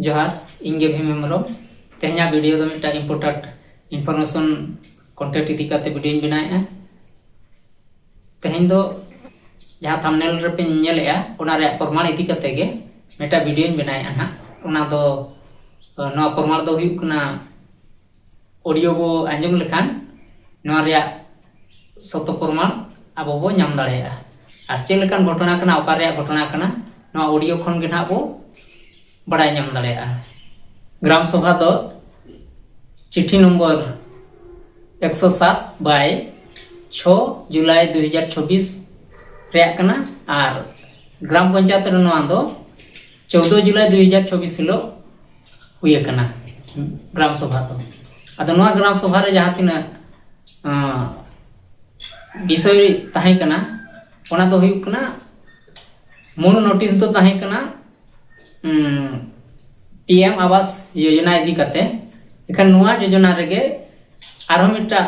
ᱡᱚᱦᱟᱨ ᱤᱧ ᱜᱮ ᱵᱷᱤᱢ ᱦᱮᱢᱵᱨᱚᱢ ᱛᱮᱦᱮᱧᱟᱜ ᱵᱷᱤᱰᱤᱭᱳ ᱫᱚ ᱢᱤᱫᱴᱟᱝ ᱤᱢᱯᱚᱨᱴᱟᱱᱴ ᱤᱱᱯᱷᱚᱨᱢᱮᱥᱚᱱ ᱠᱚᱱᱴᱮᱱᱴ ᱤᱫᱤ ᱠᱟᱛᱮ ᱵᱷᱤᱰᱤᱭᱳᱧ ᱵᱮᱱᱟᱣᱮᱫᱼᱟ ᱛᱮᱦᱮᱧ ᱫᱚ ᱡᱟᱦᱟᱸ ᱛᱷᱟᱢᱱᱮᱞ ᱨᱮᱯᱮ ᱧᱮᱞᱮᱫᱼᱟ ᱚᱱᱟ ᱨᱮᱭᱟᱜ ᱯᱨᱚᱢᱟᱬ ᱤᱫᱤ ᱠᱟᱛᱮ ᱜᱮ ᱢᱤᱫᱴᱟᱝ ᱵᱷᱤᱰᱤᱭᱳᱧ ᱵᱮᱱᱟᱣᱮᱫᱼᱟ ᱱᱟᱦᱟᱜ ᱚᱱᱟ ᱫᱚ ᱱᱚᱣᱟ ᱯᱨᱚᱢᱟᱬ ᱫᱚ ᱦᱩᱭᱩᱜ ᱠᱟᱱᱟ ᱚᱰᱤᱭᱳ ᱵᱚ ᱟᱸᱡᱚᱢ ᱞᱮᱠᱷᱟᱱ ᱱᱚᱣᱟ ᱨᱮᱭᱟᱜ ᱥᱚᱛᱚ ᱯᱨᱚᱢᱟᱱ ᱟᱵᱚ ᱵᱚ ᱧᱟᱢ ᱫᱟᱲᱮᱭᱟᱜᱼᱟ ᱟᱨ ᱪᱮᱫ ᱞᱮᱠᱟᱱ ᱜᱷᱚᱴᱚᱱᱟ ᱠᱟᱱᱟ ᱚᱠᱟ ᱨᱮᱭᱟᱜ ᱜᱷᱚᱴᱚᱱᱟ ᱠᱟᱱᱟ ᱱᱚᱣᱟ ᱚᱰᱤᱭᱳ ᱠᱷᱚᱱ ᱜᱮ ᱱᱟᱦᱟᱜ ᱵᱚ ᱵᱟᱲᱟᱭ ᱧᱟᱢ ᱫᱟᱲᱮᱭᱟᱜᱼᱟ ᱜᱨᱟᱢ ᱥᱚᱵᱷᱟ ᱫᱚ ᱪᱤᱴᱷᱤ ᱱᱚᱢᱵᱚᱨ ᱮᱠᱥᱚ ᱥᱟᱛ ᱵᱟᱭ ᱪᱷᱚ ᱡᱩᱞᱟᱭ ᱫᱩ ᱦᱟᱡᱟᱨ ᱪᱷᱚᱵᱵᱤᱥ ᱨᱮᱭᱟᱜ ᱠᱟᱱᱟ ᱟᱨ ᱜᱨᱟᱢ ᱯᱚᱧᱪᱟᱭᱮᱛ ᱨᱮ ᱱᱚᱣᱟ ᱫᱚ ᱪᱳᱫᱽᱫᱳ ᱡᱩᱞᱟᱭ ᱫᱩᱭ ᱦᱟᱡᱟᱨ ᱪᱚᱵᱽᱵᱤᱥ ᱦᱤᱞᱳᱜ ᱦᱩᱭ ᱟᱠᱟᱱᱟ ᱜᱨᱟᱢ ᱥᱚᱵᱷᱟ ᱫᱚ ᱟᱫᱚ ᱱᱚᱣᱟ ᱜᱨᱟᱢ ᱥᱚᱵᱷᱟ ᱨᱮ ᱡᱟᱦᱟᱸ ᱛᱤᱱᱟᱹᱜ ᱵᱤᱥᱚᱭ ᱛᱟᱦᱮᱸ ᱠᱟᱱᱟ ᱚᱱᱟ ᱫᱚ ᱦᱩᱭᱩᱜ ᱠᱟᱱᱟ ᱢᱩᱬ ᱱᱳᱴᱤᱥ ᱫᱚ ᱛᱟᱦᱮᱸ ᱠᱟᱱᱟ ᱯᱤ ᱮᱢ ᱟᱵᱟᱥ ᱡᱳᱡᱚᱱᱟ ᱤᱫᱤ ᱠᱟᱛᱮ ᱮᱠᱷᱟᱱ ᱱᱚᱣᱟ ᱡᱳᱡᱚᱱᱟ ᱨᱮᱜᱮ ᱟᱨᱦᱚᱸ ᱢᱤᱫᱴᱟᱜ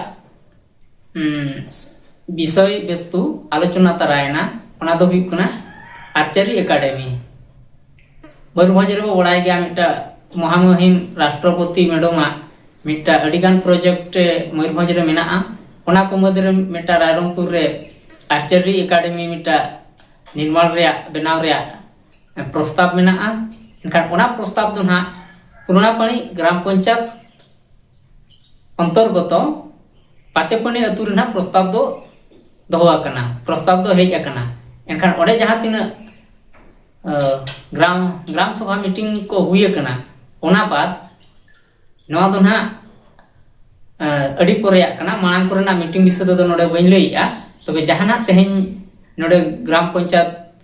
ᱵᱤᱥᱚᱭ ᱵᱮᱥᱛᱩ ᱟᱞᱳᱪᱚᱱᱟ ᱛᱟᱨᱟᱭᱮᱱᱟ ᱚᱱᱟ ᱫᱚ ᱦᱩᱭᱩᱜ ᱠᱟᱱᱟ ᱟᱨᱪᱟᱨᱤ ᱮᱠᱟᱰᱮᱢᱤ ᱢᱚᱭᱩᱨᱵᱷᱚᱸᱡᱽ ᱨᱮᱵᱚ ᱵᱟᱲᱟᱭ ᱜᱮᱭᱟ ᱢᱤᱫᱴᱟᱝ ᱢᱚᱦᱟᱢᱩᱦᱤᱢ ᱨᱟᱥᱴᱨᱚᱯᱚᱛᱤ ᱢᱮᱰᱚᱢᱟᱜ ᱢᱤᱫᱴᱟᱝ ᱟᱹᱰᱤᱜᱟᱱ ᱯᱨᱚᱡᱮᱠᱴ ᱢᱚᱭᱩᱨᱵᱷᱚᱸᱡᱽ ᱨᱮ ᱢᱮᱱᱟᱜᱼᱟ ᱚᱱᱟ ᱠᱚ ᱢᱩᱫᱽ ᱨᱮ ᱢᱤᱫᱴᱟᱝ ᱨᱟᱭᱨᱚᱝᱯᱩᱨ ᱨᱮ ᱟᱨᱪᱟᱨᱤ ᱮᱠᱟᱰᱮᱢᱤ ᱢᱤᱫᱴᱟᱝ ᱱᱤᱨᱢᱟᱬ ᱨᱮᱭᱟᱜ ᱵᱮᱱᱟᱣ ᱨᱮᱭᱟᱜ ᱯᱨᱚᱥᱛᱟᱵ ᱢᱮᱱᱟᱜᱼᱟ ᱮᱱᱠᱷᱟᱱ ᱚᱱᱟ ᱯᱨᱚᱥᱛᱟᱵ ᱫᱚ ᱱᱟᱦᱟᱜ ᱯᱩᱨᱚᱱᱟᱯᱟᱲᱤ ᱜᱨᱟᱢ ᱯᱚᱧᱪᱟᱭᱮᱛ ᱚᱱᱛᱚᱨᱜᱚᱛᱚ ᱯᱟᱛᱮᱯᱟᱹᱱᱤ ᱟᱹᱛᱩ ᱨᱮᱱᱟᱜ ᱯᱨᱚᱥᱛᱟᱵ ᱫᱚ ᱫᱚᱦᱚ ᱟᱠᱟᱱᱟ ᱯᱨᱚᱥᱛᱟᱵ ᱫᱚ ᱦᱮᱡ ᱟᱠᱟᱱᱟ ᱮᱱᱠᱷᱟᱱ ᱚᱸᱰᱮ ᱡᱟᱦᱟᱸ ᱛᱤᱱᱟᱹᱜ ᱜᱨᱟᱢ ᱜᱨᱟᱢ ᱥᱚᱵᱷᱟ ᱢᱤᱴᱤᱝ ᱠᱚ ᱦᱩᱭ ᱟᱠᱟᱱᱟ ᱚᱱᱟ ᱵᱟᱫ ᱱᱚᱣᱟ ᱫᱚ ᱱᱟᱦᱟᱜ ᱟᱹᱰᱤ ᱯᱚᱨᱮᱭᱟᱜ ᱠᱟᱱᱟ ᱢᱟᱲᱟᱝ ᱠᱚᱨᱮᱱᱟᱜ ᱢᱤᱴᱤᱝ ᱵᱤᱥᱚᱭ ᱛᱮᱫᱚ ᱱᱚᱰᱮ ᱵᱟᱹᱧ ᱞᱟᱹᱭᱮᱜᱼᱟ ᱛᱚᱵᱮ ᱡᱟᱦᱟᱱᱟᱜ ᱛᱮᱦᱮᱧ ᱱᱚᱰᱮ ᱜᱨᱟᱢ ᱯᱚᱧᱪᱟᱭᱮᱛ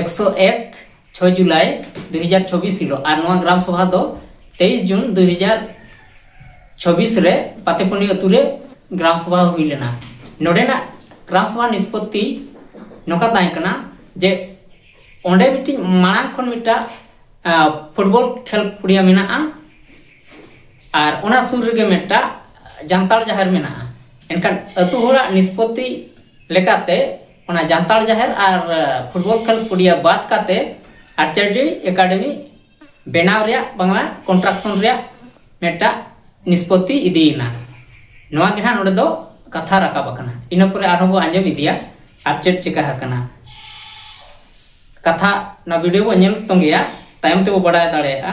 ᱮᱠᱥᱚ ᱮᱠ ᱪᱷᱚᱭ ᱡᱩᱞᱟᱭ ᱫᱩ ᱦᱟᱡᱟᱨ ᱪᱷᱚᱵᱤᱥ ᱦᱤᱞᱳᱜ ᱟᱨ ᱱᱚᱣᱟ ᱜᱨᱟᱢ ᱥᱚᱵᱷᱟ ᱫᱚ ᱛᱮᱭᱤᱥ ᱡᱩᱱ ᱫᱩ ᱦᱟᱡᱟᱨ ᱪᱷᱚᱵᱤᱥ ᱨᱮ ᱯᱟᱛᱮᱯᱩᱱᱤ ᱟᱹᱛᱩ ᱨᱮ ᱜᱨᱟᱢ ᱥᱚᱵᱷᱟ ᱦᱩᱭ ᱞᱮᱱᱟ ᱱᱚᱰᱮᱱᱟᱜ ᱜᱨᱟᱢ ᱥᱚᱵᱷᱟ ᱱᱤᱥᱯᱚᱛᱛᱤ ᱱᱚᱝᱠᱟ ᱛᱟᱦᱮᱸ ᱠᱟᱱᱟ ᱡᱮ ᱚᱸᱰᱮ ᱢᱤᱫᱴᱤᱡ ᱢᱟᱲᱟᱝ ᱠᱷᱚᱱ ᱢᱤᱫᱴᱟᱝ ᱯᱷᱩᱴᱵᱚᱞ ᱠᱷᱮᱞ ᱯᱩᱲᱤᱭᱟ ᱢᱮᱱᱟᱜᱼᱟ ᱟᱨ ᱚᱱᱟ ᱥᱩᱨ ᱨᱮᱜᱮ ᱢᱤᱫᱴᱟᱝ ᱡᱟᱱᱛᱟᱲ ᱡᱟᱦᱮᱨ ᱢᱮᱱᱟᱜᱼᱟ ᱮᱱᱠᱷᱟᱱ ᱟᱹᱛᱩ ᱦᱚᱲᱟᱜ ᱱᱤᱥᱯᱚᱛᱛᱤ ᱞᱮᱠᱟᱛᱮ ᱚᱱᱟ ᱡᱟᱱᱛᱟᱲ ᱡᱟᱦᱮᱨ ᱟᱨ ᱯᱷᱩᱴᱵᱚᱞ ᱠᱷᱮᱞ ᱯᱩᱰᱤᱭᱟ ᱵᱟᱫ ᱠᱟᱛᱮ ᱟᱨᱪᱟᱨᱰᱤ ᱮᱠᱟᱰᱮᱢᱤ ᱵᱮᱱᱟᱣ ᱨᱮᱭᱟᱜ ᱵᱟᱝᱞᱟ ᱠᱚᱱᱴᱨᱟᱠᱥᱚᱱ ᱨᱮᱭᱟᱜ ᱢᱤᱫᱴᱟᱜ ᱱᱤᱥᱯᱚᱛᱤ ᱤᱫᱤᱭᱮᱱᱟ ᱱᱚᱣᱟ ᱜᱮ ᱦᱟᱸᱜ ᱱᱚᱰᱮ ᱫᱚ ᱠᱟᱛᱷᱟ ᱨᱟᱠᱟᱵ ᱟᱠᱟᱱᱟ ᱤᱱᱟᱹ ᱯᱚᱨᱮ ᱟᱨᱦᱚᱸ ᱵᱚ ᱟᱸᱡᱚᱢ ᱤᱫᱤᱭᱟ ᱟᱨ ᱪᱮᱫ ᱪᱤᱠᱟ ᱟᱠᱟᱱᱟ ᱠᱟᱛᱷᱟ ᱱᱚᱣᱟ ᱵᱷᱤᱰᱤᱭᱳ ᱵᱚ ᱧᱮᱞ ᱛᱚᱸᱜᱮᱭᱟ ᱛᱟᱭᱚᱢ ᱛᱮᱵᱚ ᱵᱟᱰᱟᱭ ᱫᱟᱲᱮᱭᱟᱜᱼᱟ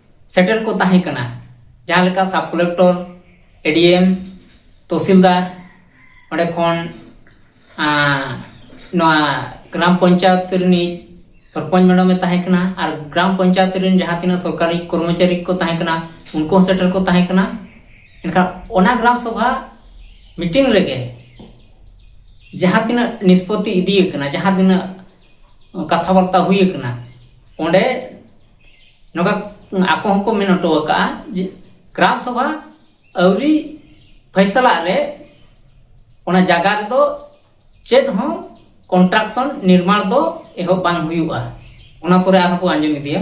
ᱥᱮᱴᱮᱨ ᱠᱚ ᱛᱟᱦᱮᱸ ᱠᱟᱱᱟ ᱡᱟᱦᱟᱸ ᱞᱮᱠᱟ ᱥᱟᱵ ᱠᱚᱞᱮᱠᱴᱚᱨ ᱮᱰᱤᱮᱢ ᱛᱚᱦᱥᱤᱞᱫᱟᱨ ᱚᱸᱰᱮ ᱠᱷᱚᱱ ᱱᱚᱣᱟ ᱜᱨᱟᱢ ᱯᱚᱧᱪᱟᱭᱮᱛ ᱨᱤᱱᱤᱡ ᱥᱚᱨᱯᱚᱧᱪ ᱢᱮᱰᱟᱢᱮ ᱛᱟᱦᱮᱸ ᱠᱟᱱᱟ ᱟᱨ ᱜᱨᱟᱢ ᱯᱚᱧᱪᱟᱭᱮᱛ ᱨᱮᱱ ᱡᱟᱦᱟᱸ ᱛᱤᱱᱟᱹᱜ ᱥᱚᱨᱠᱟᱨᱤ ᱠᱚᱨᱢᱚᱪᱟᱨᱤ ᱠᱚ ᱛᱟᱦᱮᱸ ᱠᱟᱱᱟ ᱩᱱᱠᱩ ᱦᱚᱸ ᱥᱮᱴᱮᱨ ᱠᱚ ᱛᱟᱦᱮᱸ ᱠᱟᱱᱟ ᱮᱱᱠᱷᱟᱱ ᱚᱱᱟ ᱜᱨᱟᱢ ᱥᱚᱵᱷᱟ ᱢᱤᱴᱤᱝ ᱨᱮᱜᱮ ᱡᱟᱦᱟᱸ ᱛᱤᱱᱟᱹᱜ ᱱᱤᱥᱯᱚᱛᱛᱤ ᱤᱫᱤ ᱟᱠᱟᱱᱟ ᱡᱟᱦᱟᱸ ᱛᱤᱱᱟᱹᱜ ᱠᱟᱛᱷᱟ ᱵᱟᱨᱛᱟ ᱦᱩᱭ ᱟᱠᱟᱱᱟ ᱚᱸᱰᱮ ᱱᱚᱝᱠᱟ ᱟᱠᱚ ᱦᱚᱸᱠᱚ ᱢᱮᱱ ᱦᱚᱴᱚ ᱟᱠᱟᱫᱼᱟ ᱡᱮ ᱜᱨᱟᱢ ᱥᱚᱵᱷᱟ ᱟᱹᱣᱨᱤ ᱯᱷᱟᱭᱥᱟᱞᱟᱜ ᱨᱮ ᱚᱱᱟ ᱡᱟᱭᱜᱟ ᱨᱮᱫᱚ ᱪᱮᱫ ᱦᱚᱸ ᱠᱚᱱᱴᱨᱟᱠᱥᱚᱱ ᱱᱤᱨᱢᱟᱬ ᱫᱚ ᱮᱦᱚᱵ ᱵᱟᱝ ᱦᱩᱭᱩᱜᱼᱟ ᱚᱱᱟ ᱯᱚᱨᱮ ᱟᱨᱦᱚᱸ ᱠᱚ ᱟᱸᱡᱚᱢ ᱤᱫᱤᱭᱟ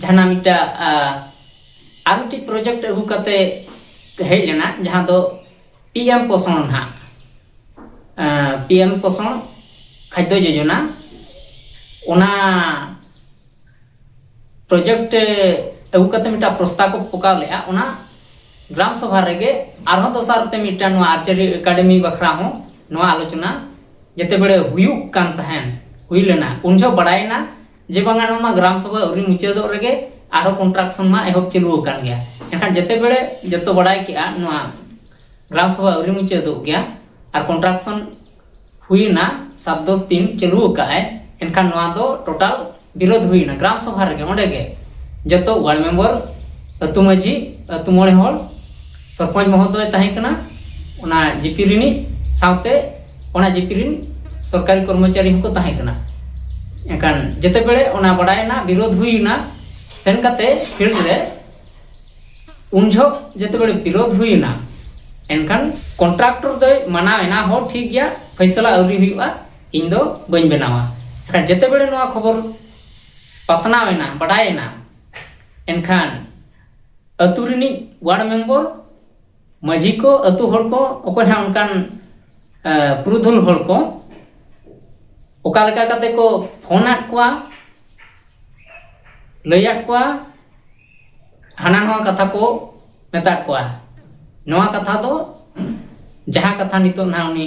ᱡᱟᱦᱟᱱᱟᱜ ᱢᱤᱫᱴᱟᱜ ᱟᱨ ᱢᱤᱫᱴᱤᱡ ᱯᱨᱚᱡᱮᱠᱴ ᱟᱹᱜᱩ ᱠᱟᱛᱮ ᱦᱮᱡ ᱞᱮᱱᱟ ᱡᱟᱦᱟᱸ ᱫᱚ ᱯᱤ ᱮᱢ ᱯᱳᱥᱚᱱ ᱦᱟᱸᱜ ᱯᱤ ᱮᱢ ᱯᱳᱥᱚᱱ ᱠᱷᱟᱫᱽᱫᱚ ᱡᱳᱡᱚᱱᱟ ᱚᱱᱟ ᱯᱨᱚᱡᱮᱠᱴ ᱟᱹᱜᱩ ᱠᱟᱛᱮ ᱢᱤᱫᱴᱟᱝ ᱯᱨᱚᱥᱛᱟᱵ ᱠᱚ ᱯᱚᱠᱟᱣ ᱞᱮᱜᱼᱟ ᱚᱱᱟ ᱜᱨᱟᱢ ᱥᱚᱵᱷᱟ ᱨᱮᱜᱮ ᱟᱨᱦᱚᱸ ᱫᱚᱥᱟᱨ ᱛᱮ ᱢᱤᱫᱴᱟᱝ ᱱᱚᱣᱟ ᱟᱨᱪᱟᱨᱤ ᱮᱠᱟᱰᱮᱢᱤ ᱵᱟᱠᱷᱨᱟ ᱦᱚᱸ ᱱᱚᱣᱟ ᱟᱞᱳᱪᱚᱱᱟ ᱡᱮᱛᱮ ᱵᱮᱲᱮ ᱦᱩᱭᱩᱜ ᱠᱟᱱ ᱛᱟᱦᱮᱱ ᱦᱩᱭ ᱞᱮᱱᱟ ᱩᱱ ᱡᱚᱦᱚᱜ ᱵᱟᱲᱟᱭᱮᱱᱟ ᱡᱮ ᱵᱟᱝᱟ ᱱᱚᱣᱟ ᱢᱟ ᱜᱨᱟᱢ ᱥᱚᱵᱷᱟ ᱟᱹᱣᱨᱤ ᱢᱩᱪᱟᱹᱫᱚᱜ ᱨᱮᱜᱮ ᱟᱨᱦᱚᱸ ᱠᱚᱱᱴᱨᱟᱠᱥᱚᱱ ᱢᱟ ᱮᱦᱚᱵ ᱪᱟᱹᱞᱩ ᱟᱠᱟᱱ ᱜᱮᱭᱟ ᱮᱱᱠᱷᱟᱱ ᱡᱮᱛᱮ ᱵᱮᱲᱮ ᱡᱚᱛᱚ ᱵᱟᱲᱟᱭ ᱠᱮᱜᱼᱟ ᱱᱚᱣᱟ ᱜᱨᱟᱢ ᱥᱚᱵᱷᱟ ᱟᱹᱣᱨᱤ ᱢᱩᱪᱟᱹᱫᱚᱜ ᱜᱮᱭᱟ ᱟᱨ ᱠᱚᱱᱴᱨᱟᱠᱥᱚᱱ ᱦᱩᱭᱱᱟ ᱥᱟᱛ ᱫᱚᱥ ᱫᱤᱱ ᱪᱟᱹᱞᱩ ᱟᱠᱟᱫᱼᱟᱭ ᱮᱱᱠᱷᱟᱱ ᱱᱚᱣᱟ ᱫᱚ ᱴᱳᱴᱟᱞ ᱵᱤᱨᱳᱫᱷ ᱦᱩᱭᱱᱟ ᱜᱨᱟᱢ ᱥᱚᱵᱷᱟ ᱨᱮᱜᱮ ᱚᱸᱰᱮ ᱜᱮ ᱡᱚᱛᱚ ᱣᱟᱨᱰ ᱢᱮᱢᱵᱚᱨ ᱟᱹᱛᱩ ᱢᱟᱺᱡᱷᱤ ᱟᱹᱛᱩ ᱢᱚᱬᱮ ᱦᱚᱲ ᱥᱚᱨᱯᱚᱧᱡᱽ ᱢᱚᱦᱚᱫᱚᱭ ᱛᱟᱦᱮᱸ ᱠᱟᱱᱟ ᱚᱱᱟ ᱡᱤᱯᱤ ᱨᱤᱱᱤᱡ ᱥᱟᱶᱛᱮ ᱚᱱᱟ ᱡᱤᱯᱤ ᱨᱤᱱ ᱥᱚᱨᱠᱟᱨᱤ ᱠᱚᱨᱢᱚᱪᱟᱨᱤ ᱦᱚᱸᱠᱚ ᱛᱟᱦᱮᱸ ᱠᱟᱱᱟ ᱮᱱᱠᱷᱟᱱ ᱡᱮᱛᱮ ᱵᱮᱲᱮ ᱚᱱᱟ ᱵᱟᱰᱟᱭᱮᱱᱟ ᱵᱤᱨᱳᱫᱷ ᱦᱩᱭᱮᱱᱟ ᱥᱮᱱ ᱠᱟᱛᱮ ᱯᱷᱤᱞᱰ ᱨᱮ ᱩᱱ ᱡᱷᱚᱜ ᱡᱮᱛᱮ ᱵᱮᱲᱮ ᱵᱤᱨᱳᱫᱷ ᱦᱩᱭᱮᱱᱟ ᱮᱱᱠᱷᱟᱱ ᱠᱚᱱᱴᱨᱟᱠᱴᱚᱨ ᱫᱚᱭ ᱢᱟᱱᱟᱣ ᱮᱱᱟ ᱦᱚᱸ ᱴᱷᱤᱠ ᱜᱮᱭᱟ ᱯᱷᱟᱭᱥᱟᱞᱟ ᱟᱹᱣᱨᱤ ᱦᱩᱭᱩᱜᱼᱟ ᱤᱧ ᱫᱚ ᱵᱟᱹᱧ ᱵᱮᱱᱟᱣᱟ ᱮᱱᱠᱷᱟᱱ ᱡᱮᱛᱮ ᱵᱮᱲᱮ ᱱᱚᱣᱟ ᱠᱷᱚᱵᱚᱨ ᱯᱟᱥᱱᱟᱣ ᱮᱱᱟ ᱵᱟᱰᱟᱭᱮᱱᱟ ᱮᱱᱠᱷᱟᱱ ᱟᱹᱛᱩ ᱨᱤᱱᱤᱡ ᱣᱟᱨᱰ ᱢᱮᱢᱵᱚᱨ ᱢᱟᱹᱡᱷᱤ ᱠᱚ ᱟᱹᱛᱩ ᱦᱚᱲ ᱠᱚ ᱚᱠᱚᱭ ᱦᱟᱸᱜ ᱚᱱᱠᱟᱱ ᱯᱩᱨᱩᱫᱷᱩᱞ ᱦᱚᱲ ᱠᱚ ᱚᱠᱟ ᱞᱮᱠᱟ ᱠᱟᱛᱮ ᱠᱚ ᱯᱷᱳᱱ ᱟᱫ ᱠᱚᱣᱟ ᱞᱟᱹᱭ ᱟᱫ ᱠᱚᱣᱟ ᱦᱟᱱᱟ ᱱᱚᱣᱟ ᱠᱟᱛᱷᱟ ᱠᱚ ᱢᱮᱛᱟᱫ ᱠᱚᱣᱟ ᱱᱚᱣᱟ ᱠᱟᱛᱷᱟ ᱫᱚ ᱡᱟᱦᱟᱸ ᱠᱟᱛᱷᱟ ᱱᱤᱛᱚᱜ ᱱᱟᱦᱟᱜ ᱩᱱᱤ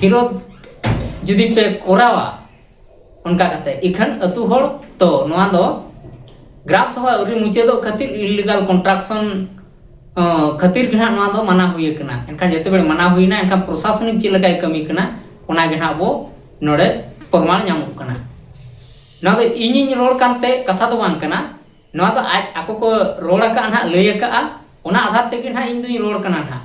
ᱵᱤᱨᱳᱫ ᱡᱩᱫᱤ ᱯᱮ ᱠᱚᱨᱟᱣᱟ ᱚᱱᱠᱟ ᱠᱟᱛᱮ ᱤᱠᱷᱟᱱ ᱟᱹᱛᱩ ᱦᱚᱲ ᱛᱚ ᱱᱚᱣᱟ ᱫᱚ ᱜᱨᱟᱢ ᱥᱚᱵᱷᱟ ᱟᱹᱣᱨᱤ ᱢᱩᱪᱟᱹᱫᱚᱜ ᱠᱷᱟᱹᱛᱤᱨ ᱤᱞᱤᱜᱟᱞ ᱠᱚᱱᱴᱨᱟᱠᱥᱚᱱ ᱠᱷᱟᱹᱛᱤᱨ ᱜᱮ ᱱᱟᱦᱟᱜ ᱱᱚᱣᱟ ᱫᱚ ᱢᱟᱱᱟ ᱦᱩᱭ ᱟᱠᱟᱱᱟ ᱮᱱᱠᱷᱟᱱ ᱡᱮᱛᱮ ᱵᱮᱲᱮ ᱢᱟᱱᱟ ᱦᱩᱭᱱᱟ ᱮᱱᱠᱷᱟᱱ ᱯᱨᱚᱥᱟᱥᱚᱱᱤᱠ ᱪᱮᱫ ᱞᱮᱠᱟᱭ ᱠᱟᱹᱢᱤ ᱠᱟᱱᱟ ᱚᱱᱟ ᱜᱮ ᱱᱟᱦᱟᱜ ᱵᱚ ᱱᱚᱰᱮ ᱯᱨᱚᱢᱟᱱ ᱧᱟᱢᱚᱜ ᱠᱟᱱᱟ ᱱᱚᱣᱟ ᱫᱚ ᱤᱧᱤᱧ ᱨᱚᱲ ᱠᱟᱱᱛᱮ ᱠᱟᱛᱷᱟ ᱫᱚ ᱵᱟᱝ ᱠᱟᱱᱟ ᱱᱚᱣᱟ ᱫᱚ ᱟᱡ ᱟᱠᱚ ᱠᱚ ᱨᱚᱲ ᱟᱠᱟᱫᱼᱟ ᱱᱟᱦᱟᱜ ᱞᱟᱹᱭ ᱟᱠᱟᱫᱼᱟ ᱚᱱᱟ ᱟᱫᱷᱟᱨ ᱛᱮᱜᱮ ᱱᱟᱦᱟᱜ ᱤᱧ ᱫᱩᱧ ᱨᱚᱲ ᱠᱟᱱᱟ ᱱᱟᱦᱟᱜ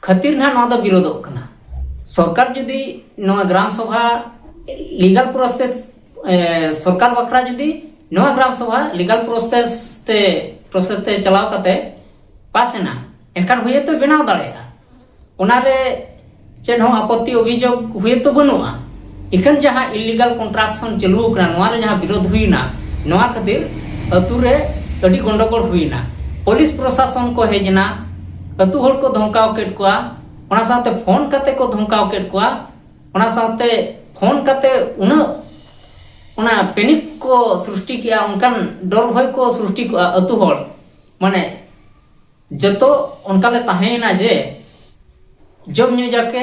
ᱠᱷᱟᱹᱛᱤᱨ ᱱᱟᱦᱟᱜ ᱱᱚᱣᱟ ᱫᱚ ᱵᱤᱨᱳᱫᱚᱜ ᱠᱟᱱᱟ ᱥᱚᱨᱠᱟᱨ ᱡᱩᱫᱤ ᱱᱚᱣᱟ ᱜᱨᱟᱢ ᱥᱚᱵᱷᱟ ᱞᱤᱜᱟᱞ ᱯᱨᱚᱥᱮᱥ ᱥᱚᱨᱠᱟᱨ ᱵᱟᱠᱷᱨᱟ ᱡᱩᱫᱤ ᱱᱚᱣᱟ ᱜᱨᱟᱢ ᱥᱚᱵᱷᱟ ᱞᱤᱜᱟᱞ ᱯᱨᱚᱥᱮᱥ ᱛᱮ ᱯᱨᱚᱥᱮᱥ ᱛᱮ ᱪᱟᱞᱟᱣ ᱠᱟᱛᱮ ᱯᱟᱥ ᱮᱱᱟ ᱮᱱᱠᱷᱟᱱ ᱦᱩᱭᱛᱚ ᱵᱮᱱᱟᱣ ᱫᱟᱲᱮᱭᱟᱜᱼᱟ ᱚᱱᱟᱨᱮ ᱪᱮᱫ ᱦᱚᱸ ᱟᱯᱚᱛᱛᱤ ᱚᱵᱷᱤᱡᱳᱜᱽ ᱦᱩᱭᱛᱚ ᱵᱟᱹᱱᱩᱜᱼᱟ ᱮᱠᱷᱟᱱ ᱡᱟᱦᱟᱸ ᱤᱞᱤᱜᱟᱞ ᱠᱚᱱᱴᱨᱟᱠᱥᱚᱱ ᱪᱟᱹᱞᱩ ᱟᱠᱟᱱᱟ ᱱᱚᱣᱟ ᱨᱮ ᱡᱟᱦᱟᱸ ᱵᱤᱨᱳᱫᱷ ᱦᱩᱭᱱᱟ ᱱᱚᱣᱟ ᱠᱷᱟᱹᱛᱤᱨ ᱟᱹᱛᱩ ᱨᱮ ᱟᱹᱰᱤ ᱜᱚᱱᱰᱚᱜᱚᱲ ᱦᱩᱭᱱᱟ ᱯᱩᱞᱤᱥ ᱯᱨᱚᱥᱟᱥᱚᱱ ᱠᱚ ᱦᱮᱡ ᱮᱱᱟ ᱟᱹᱛᱩ ᱦᱚᱲ ᱠᱚ ᱫᱷᱚᱢᱠᱟᱣ ᱠᱮᱫ ᱠᱚᱣᱟ ᱚᱱᱟ ᱥᱟᱶᱛᱮ ᱯᱷᱳᱱ ᱠᱟᱛᱮ ᱠᱚ ᱫᱷᱚᱢᱠᱟᱣ ᱠᱮᱫ ᱠᱚᱣᱟ ᱚᱱᱟ ᱥᱟᱶᱛᱮ ᱯᱷᱳᱱ ᱠᱟᱛᱮ ᱩᱱᱟᱹᱜ ᱚᱱᱟ ᱯᱮᱱᱤᱠ ᱠᱚ ᱥᱨᱤᱥᱴᱤ ᱠᱮᱜᱼᱟ ᱚᱱᱠᱟᱱ ᱰᱚᱨ ᱵᱷᱚᱭ ᱠᱚ ᱥᱨᱤᱥᱴᱤ ᱠᱚᱜᱼᱟ ᱟᱹᱛᱩ ᱦᱚᱲ ᱢᱟᱱᱮ ᱡᱚᱛᱚ ᱚᱱᱠᱟ ᱞᱮ ᱛᱟᱦᱮᱸᱭᱮᱱᱟ ᱡᱮ ᱡᱚᱢ ᱧᱩ ᱡᱟᱠᱮ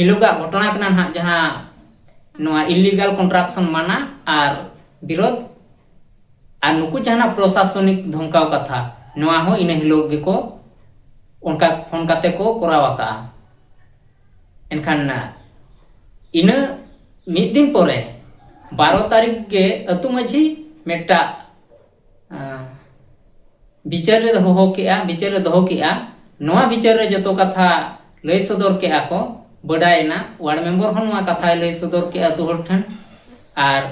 ᱮᱞᱳᱜᱟ ᱜᱷᱚᱴᱚᱱᱟ ᱠᱟᱱᱟ ᱱᱟᱦᱟᱜ ᱡᱟᱦᱟᱸ ᱱᱚᱣᱟ ᱤᱞᱤᱜᱟᱞ ᱠᱚᱱᱴᱨᱟᱠᱥᱚᱱ ᱢᱟᱱᱟ ᱟᱨ ᱵᱤᱨᱳᱫ ᱟᱨ ᱱᱩᱠᱩ ᱡᱟᱦᱟᱱᱟᱜ ᱯᱨᱚᱥᱟᱥᱚᱱᱤᱠ ᱫᱷᱚᱢᱠᱟᱣ ᱠᱟᱛᱷᱟ ᱱᱚᱣᱟ ᱦᱚᱸ ᱤᱱᱟᱹ ᱦᱤᱞᱳᱜ ᱜᱮᱠᱚ ᱚᱱᱠᱟ ᱯᱷᱳᱱ ᱠᱟᱛᱮ ᱠᱚ ᱠᱚᱨᱟᱣ ᱟᱠᱟᱜᱼᱟ ᱮᱱᱠᱷᱟᱱ ᱤᱱᱟᱹ ᱢᱤᱫ ᱫᱤᱱ ᱯᱚᱨᱮ ᱵᱟᱨᱚ ᱛᱟᱹᱨᱤᱠᱷ ᱜᱮ ᱟᱹᱛᱩ ᱢᱟᱹᱡᱷᱤ ᱢᱤᱫᱴᱟᱜ ᱵᱤᱪᱟᱹᱨ ᱨᱮ ᱦᱚᱦᱚ ᱠᱮᱜᱼᱟ ᱵᱤᱪᱟᱹᱨ ᱨᱮ ᱫᱚᱦᱚ ᱠᱮᱜᱼᱟ ᱱᱚᱣᱟ ᱵᱤᱪᱟᱹᱨ ᱨᱮ ᱡᱚᱛᱚ ᱠᱟᱛᱷᱟ ᱞᱟᱹᱭ ᱥᱚᱫᱚᱨ ᱠᱮᱜᱼᱟ ᱠᱚ ᱵᱟᱰᱟᱭᱮᱱᱟ ᱣᱟᱨᱰ ᱢᱮᱢᱵᱚᱨ ᱦᱚᱸ ᱱᱚᱣᱟ ᱠᱟᱛᱷᱟᱭ ᱞᱟᱹᱭ ᱥᱚᱫᱚᱨ ᱠᱮᱜᱼᱟ ᱟᱛᱳ ᱦᱚᱲ ᱴᱷᱮᱱ ᱟᱨ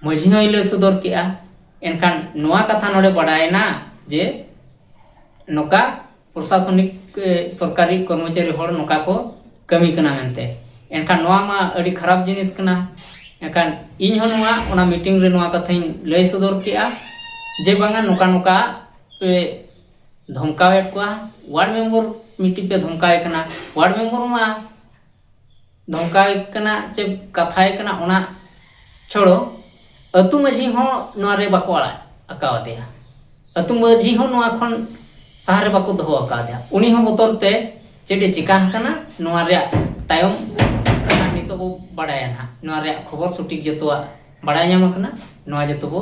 ᱢᱟᱺᱡᱷᱤ ᱦᱚᱸᱭ ᱞᱟᱹᱭ ᱥᱚᱫᱚᱨ ᱠᱮᱜᱼᱟ ᱮᱱᱠᱷᱟᱱ ᱱᱚᱣᱟ ᱠᱟᱛᱷᱟ ᱱᱚᱰᱮ ᱵᱟᱰᱟᱭᱮᱱᱟ ᱡᱮ ᱱᱚᱝᱠᱟ ᱯᱨᱚᱥᱟᱥᱚᱱᱤᱠ ᱥᱚᱨᱠᱟᱨᱤ ᱠᱚᱨᱢᱚᱪᱟᱨᱤ ᱦᱚᱲ ᱱᱚᱝᱠᱟ ᱠᱚ ᱠᱟᱹᱢᱤ ᱠᱟᱱᱟ ᱢᱮᱱᱛᱮ ᱮᱱᱠᱷᱟᱱ ᱱᱚᱣᱟ ᱢᱟ ᱟᱹᱰᱤ ᱠᱷᱟᱨᱟᱯ ᱡᱤᱱᱤᱥ ᱠᱟᱱᱟ ᱮᱱᱠᱷᱟᱱ ᱤᱧ ᱦᱚᱸ ᱱᱚᱣᱟ ᱚᱱᱟ ᱢᱤᱴᱤᱝ ᱨᱮ ᱱᱚᱣᱟ ᱠᱟᱛᱷᱟᱧ ᱞᱟᱹᱭ ᱥᱚᱫᱚᱨ ᱠᱮᱜᱼᱟ ᱡᱮ ᱵᱟᱝᱟ ᱱᱚᱝᱠᱟ ᱱᱚᱝᱠᱟ ᱯᱮ ᱫᱷᱚᱢᱠᱟᱣᱮᱫ ᱠᱚᱣᱟ ᱳᱣᱟᱨᱰ ᱢᱮᱢᱵᱚᱨ ᱢᱤᱫᱴᱤᱡ ᱯᱮ ᱫᱷᱚᱢᱠᱟᱣᱮ ᱠᱟᱱᱟ ᱳᱣᱟᱨᱰ ᱢᱮᱢᱵᱚᱨ ᱢᱟ ᱱᱚᱝᱠᱟᱭ ᱠᱟᱱᱟ ᱪᱮ ᱠᱟᱛᱷᱟᱭ ᱠᱟᱱᱟ ᱚᱱᱟ ᱪᱷᱚᱲᱚ ᱟᱹᱛᱩ ᱢᱟᱹᱡᱷᱤ ᱦᱚᱸ ᱱᱚᱣᱟ ᱨᱮ ᱵᱟᱠᱚ ᱟᱲᱟᱜ ᱟᱠᱟᱣᱟᱫᱮᱭᱟ ᱟᱹᱛᱩ ᱢᱟᱹᱡᱷᱤ ᱦᱚᱸ ᱱᱚᱣᱟ ᱠᱷᱚᱱ ᱥᱟᱦᱟ ᱨᱮ ᱵᱟᱠᱚ ᱫᱚᱦᱚ ᱟᱠᱟᱣᱟᱫᱮᱭᱟ ᱩᱱᱤ ᱦᱚᱸ ᱵᱚᱛᱚᱨ ᱛᱮ ᱪᱮᱫ ᱮ ᱪᱤᱠᱟ ᱟᱠᱟᱱᱟ ᱱᱚᱣᱟ ᱨᱮᱭᱟᱜ ᱛᱟᱭᱚᱢ ᱱᱤᱛᱚᱜ ᱵᱚ ᱵᱟᱲᱟᱭᱟ ᱱᱟᱦᱟᱜ ᱱᱚᱣᱟ ᱨᱮᱭᱟᱜ ᱠᱷᱚᱵᱚᱨ ᱥᱚᱴᱷᱤᱠ ᱡᱚᱛᱚᱣᱟᱜ ᱵᱟᱲᱟᱭ ᱧᱟᱢ ᱟᱠᱟᱱᱟ ᱱᱚᱣᱟ ᱡᱚᱛᱚ ᱵᱚ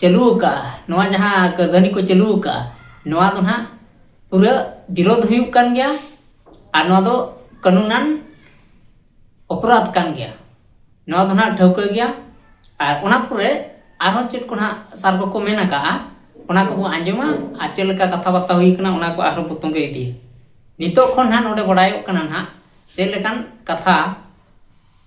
ᱪᱟᱹᱞᱩ ᱟᱠᱟᱫᱼᱟ ᱱᱚᱣᱟ ᱡᱟᱦᱟᱸ ᱠᱟᱹᱨᱫᱷᱟᱹᱱᱤ ᱠᱚ ᱪᱟᱹᱞᱩ ᱟᱠᱟᱫᱼᱟ ᱱᱚᱣᱟ ᱫᱚ ᱱᱟᱦᱟᱜ ᱯᱩᱨᱟᱹ ᱵᱤᱨᱳᱫᱷ ᱦᱩᱭᱩᱜ ᱠᱟᱱ ᱜᱮᱭᱟ ᱟᱨ ᱱᱚᱣᱟ ᱫᱚ ᱠᱟᱹᱱᱩᱱᱟᱱ ᱚᱯᱨᱟᱫᱷ ᱠᱟᱱ ᱜᱮᱭᱟ ᱱᱚᱣᱟ ᱫᱚ ᱱᱟᱦᱟᱜ ᱴᱷᱟᱹᱣᱠᱟᱹ ᱜᱮᱭᱟ ᱟᱨ ᱚᱱᱟ ᱯᱚᱨᱮ ᱟᱨᱦᱚᱸ ᱪᱮᱫ ᱠᱚ ᱱᱟᱦᱟᱜ ᱥᱟᱨ ᱠᱚᱠᱚ ᱢᱮᱱ ᱟᱠᱟᱫᱼᱟ ᱚᱱᱟ ᱠᱚᱵᱚ ᱟᱸᱡᱚᱢᱟ ᱟᱨ ᱪᱮᱫ ᱞᱮᱠᱟ ᱠᱟᱛᱷᱟ ᱵᱟᱨᱛᱟ ᱦᱩᱭ ᱠᱟᱱᱟ ᱚᱱᱟ ᱠᱚ ᱟᱨᱦᱚᱸ ᱵᱚ ᱛᱚᱸᱜᱮ ᱤᱫᱤᱭᱟ ᱱᱤᱛᱚᱜ ᱠᱷᱚᱱ ᱱᱟᱦᱟᱜ ᱱᱚᱰᱮ ᱵᱟᱰᱟᱭᱚᱜ ᱠᱟᱱᱟ ᱱᱟᱦᱟᱜ ᱪᱮᱫ ᱞᱮᱠᱟᱱ ᱠᱟᱛᱷᱟ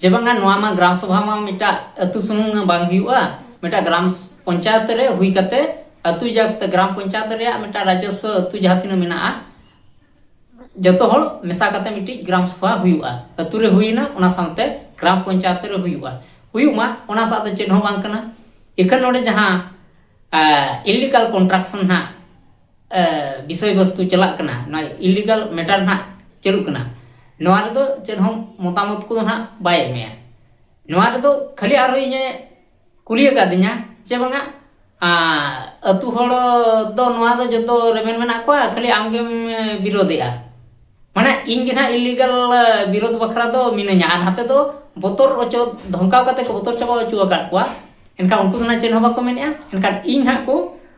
ᱡᱮ ᱵᱟᱝᱟ ᱱᱚᱣᱟ ᱢᱟ ᱜᱨᱟᱢ ᱥᱚᱵᱷᱟ ᱢᱟ ᱢᱤᱫᱴᱟᱜ ᱟᱹᱛᱩ ᱥᱩᱢᱩᱝ ᱵᱟᱝ ᱦᱩᱭᱩᱜᱼᱟ ᱢᱤᱫᱴᱟᱜ ᱜᱨᱟᱢ ᱯᱚᱧᱪᱟᱭᱮᱛ ᱨᱮ ᱦᱩᱭ ᱠᱟᱛᱮ ᱟᱹᱛᱩ ᱡᱟᱠᱛᱮ ᱜᱨᱟᱢ ᱯᱚᱧᱪᱟᱭᱮᱛ ᱨᱮᱭᱟᱜ ᱢᱤᱫᱴᱟᱜ ᱨᱟᱡᱚᱥᱣᱚ ᱟᱹᱛᱩ ᱡᱟᱦᱟᱸ ᱛᱤᱱᱟᱹᱜ ᱢᱮᱱᱟᱜᱼᱟ ᱡᱚᱛᱚ ᱦᱚᱲ ᱢᱮᱥᱟ ᱠᱟᱛᱮ ᱢᱤᱫᱴᱤᱡ ᱜᱨᱟᱢ ᱥᱚᱵᱷᱟ ᱦᱩᱭᱩᱜᱼᱟ ᱟᱹᱛᱩ ᱨᱮ ᱦᱩᱭᱱᱟ ᱚᱱᱟ ᱥᱟᱶᱛᱮ ᱜᱨᱟᱢ ᱯᱚᱧᱪᱟᱭᱮᱛ ᱨᱮ ᱦᱩᱭᱩᱜᱼᱟ ᱦᱩᱭᱩᱜ ᱢᱟ ᱚᱱᱟ ᱥᱟᱶ ᱫᱚ ᱪᱮᱫ ᱦᱚᱸ ᱵᱟᱝ ᱠᱟᱱᱟ ᱮᱠᱷᱟᱱ ᱱᱚᱰᱮ ᱡᱟᱦᱟᱸ ᱤᱞᱤᱜᱟᱞ ᱠᱚᱱᱴᱨᱟᱠᱥᱚᱱ ᱦᱟᱸᱜ ᱵᱤᱥᱚᱭ ᱵᱚᱥᱛᱩ ᱪᱟᱞᱟᱜ ᱠᱟᱱᱟ ᱱᱚᱣᱟ ᱤᱞᱤᱜᱟᱞ ᱢᱮᱴᱟᱨ ᱱᱟᱜ ᱪᱟᱹᱞᱩᱜ ᱠᱟᱱᱟ ᱱᱚᱣᱟ ᱨᱮᱫᱚ ᱪᱮᱫ ᱦᱚᱸ ᱢᱚᱛᱟᱢᱚᱛ ᱠᱚᱫᱚ ᱱᱟᱜ ᱵᱟᱭ ᱮᱢᱮᱭᱟ ᱱᱚᱣᱟ ᱨᱮᱫᱚ ᱠᱷᱟᱹᱞᱤ ᱟᱨᱦᱚᱸ ᱤᱧᱮ ᱠᱩᱞᱤ ᱟᱠᱟᱫᱤᱧᱟ ᱪᱮ ᱵᱟᱝᱟ ᱟᱹᱛᱩ ᱦᱚᱲ ᱫᱚ ᱱᱚᱣᱟ ᱫᱚ ᱡᱚᱛᱚ ᱨᱮᱵᱮᱱ ᱢᱮᱱᱟᱜ ᱠᱚᱣᱟ ᱠᱷᱟᱹᱞᱤ ᱟᱢᱜᱮᱢ ᱵᱤᱨᱳᱫᱮᱜᱼᱟ ᱢᱟᱱᱮ ᱤᱧ ᱜᱮ ᱱᱟᱜ ᱤᱞᱤᱜᱟᱞ ᱵᱤᱨᱳᱫ ᱵᱟᱠᱷᱨᱟ ᱫᱚ ᱢᱤᱱᱟᱹᱧᱟ ᱟᱨ ᱱᱟᱛᱮ ᱫᱚ ᱵᱚᱛᱚᱨ ᱚᱪᱚ ᱫᱷᱚᱢᱠᱟᱣ ᱠᱟᱛᱮ ᱠᱚ ᱵᱚᱛᱚᱨ ᱪᱟᱵᱟ ᱚᱪᱚ ᱟᱠᱟᱫ ᱠᱚᱣᱟ ᱮᱱᱠᱷᱟᱱ ᱩᱱᱠᱩ ᱫᱚ ᱱᱟᱜ ᱪᱮᱫ ᱦᱚᱸ ᱵᱟᱠᱚ ᱢᱮᱱᱮᱜᱼᱟ ᱮᱱᱠᱷᱟᱱ ᱤᱧ ᱦᱟᱸᱜ ᱠᱚ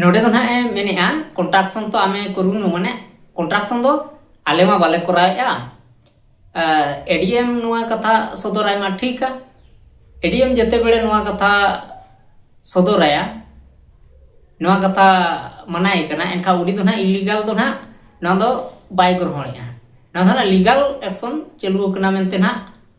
ᱱᱚᱰᱮ ᱫᱚ ᱱᱟᱦᱟᱜ ᱮ ᱢᱮᱱᱮᱜᱼᱟ ᱠᱚᱱᱴᱨᱟᱠᱥᱚᱱ ᱛᱚ ᱟᱢᱮ ᱠᱚᱨᱩᱱᱩ ᱢᱟᱱᱮ ᱠᱚᱱᱴᱨᱟᱠᱥᱚᱱ ᱫᱚ ᱟᱞᱮ ᱢᱟ ᱵᱟᱞᱮ ᱠᱚᱨᱟᱣᱮᱜᱼᱟ ᱮᱰᱤᱮᱢ ᱱᱚᱣᱟ ᱠᱟᱛᱷᱟ ᱥᱚᱫᱚᱨᱟᱭ ᱢᱟ ᱴᱷᱤᱠᱟ ᱮᱰᱤᱮᱢ ᱡᱮᱛᱮ ᱵᱮᱲᱮ ᱱᱚᱣᱟ ᱠᱟᱛᱷᱟ ᱥᱚᱫᱚᱨᱟᱭᱟ ᱱᱚᱣᱟ ᱠᱟᱛᱷᱟ ᱢᱟᱱᱟᱭ ᱠᱟᱱᱟ ᱮᱱᱠᱷᱟᱱ ᱩᱱᱤ ᱫᱚ ᱱᱟᱦᱟᱜ ᱤᱞᱤᱜᱟᱞ ᱫᱚ ᱱᱟᱦᱟᱜ ᱱᱚᱣᱟ ᱫᱚ ᱵᱟᱭ ᱜᱨᱚᱦᱚᱬᱮᱜᱼᱟ ᱱᱚᱣᱟ ᱫᱚ ᱱᱟᱦᱟᱜ ᱞᱤᱜᱟᱞ ᱮᱠᱥᱚᱱ ᱪᱟᱹᱞᱩ ᱟᱠᱟᱱᱟ ᱢᱮᱱᱛᱮ ᱱᱟᱦᱟᱜ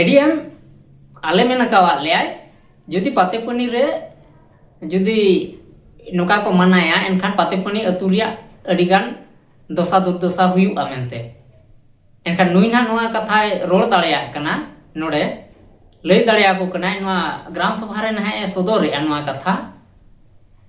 ᱮᱰᱤᱭᱮᱢ ᱟᱞᱮ ᱢᱮᱱ ᱟᱠᱟᱣᱟᱫ ᱞᱮᱭᱟᱭ ᱡᱩᱫᱤ ᱯᱟᱛᱮᱯᱟᱹᱱᱤ ᱨᱮ ᱡᱩᱫᱤ ᱱᱚᱝᱠᱟ ᱠᱚ ᱢᱟᱱᱟᱭᱟ ᱮᱱᱠᱷᱟᱱ ᱯᱟᱛᱮᱯᱟᱹᱱᱤ ᱟᱹᱛᱩ ᱨᱮᱭᱟᱜ ᱟᱹᱰᱤᱜᱟᱱ ᱫᱚᱥᱟ ᱫᱩᱨᱫᱚᱥᱟ ᱦᱩᱭᱩᱜᱼᱟ ᱢᱮᱱᱛᱮ ᱮᱱᱠᱷᱟᱱ ᱱᱩᱭ ᱱᱟᱦᱟᱜ ᱱᱚᱣᱟ ᱠᱟᱛᱷᱟᱭ ᱨᱚᱲ ᱫᱟᱲᱮᱭᱟᱜ ᱠᱟᱱᱟ ᱱᱚᱰᱮ ᱞᱟᱹᱭ ᱫᱟᱲᱮᱭᱟᱠᱚ ᱠᱟᱱᱟᱭ ᱱᱚᱣᱟ ᱜᱨᱟᱢ ᱥᱚᱵᱷᱟ ᱨᱮ ᱱᱟᱦᱟᱜ ᱮ ᱥᱚᱫᱚᱨᱮᱜᱼᱟ ᱱᱚᱣᱟ ᱠᱟᱛᱷᱟ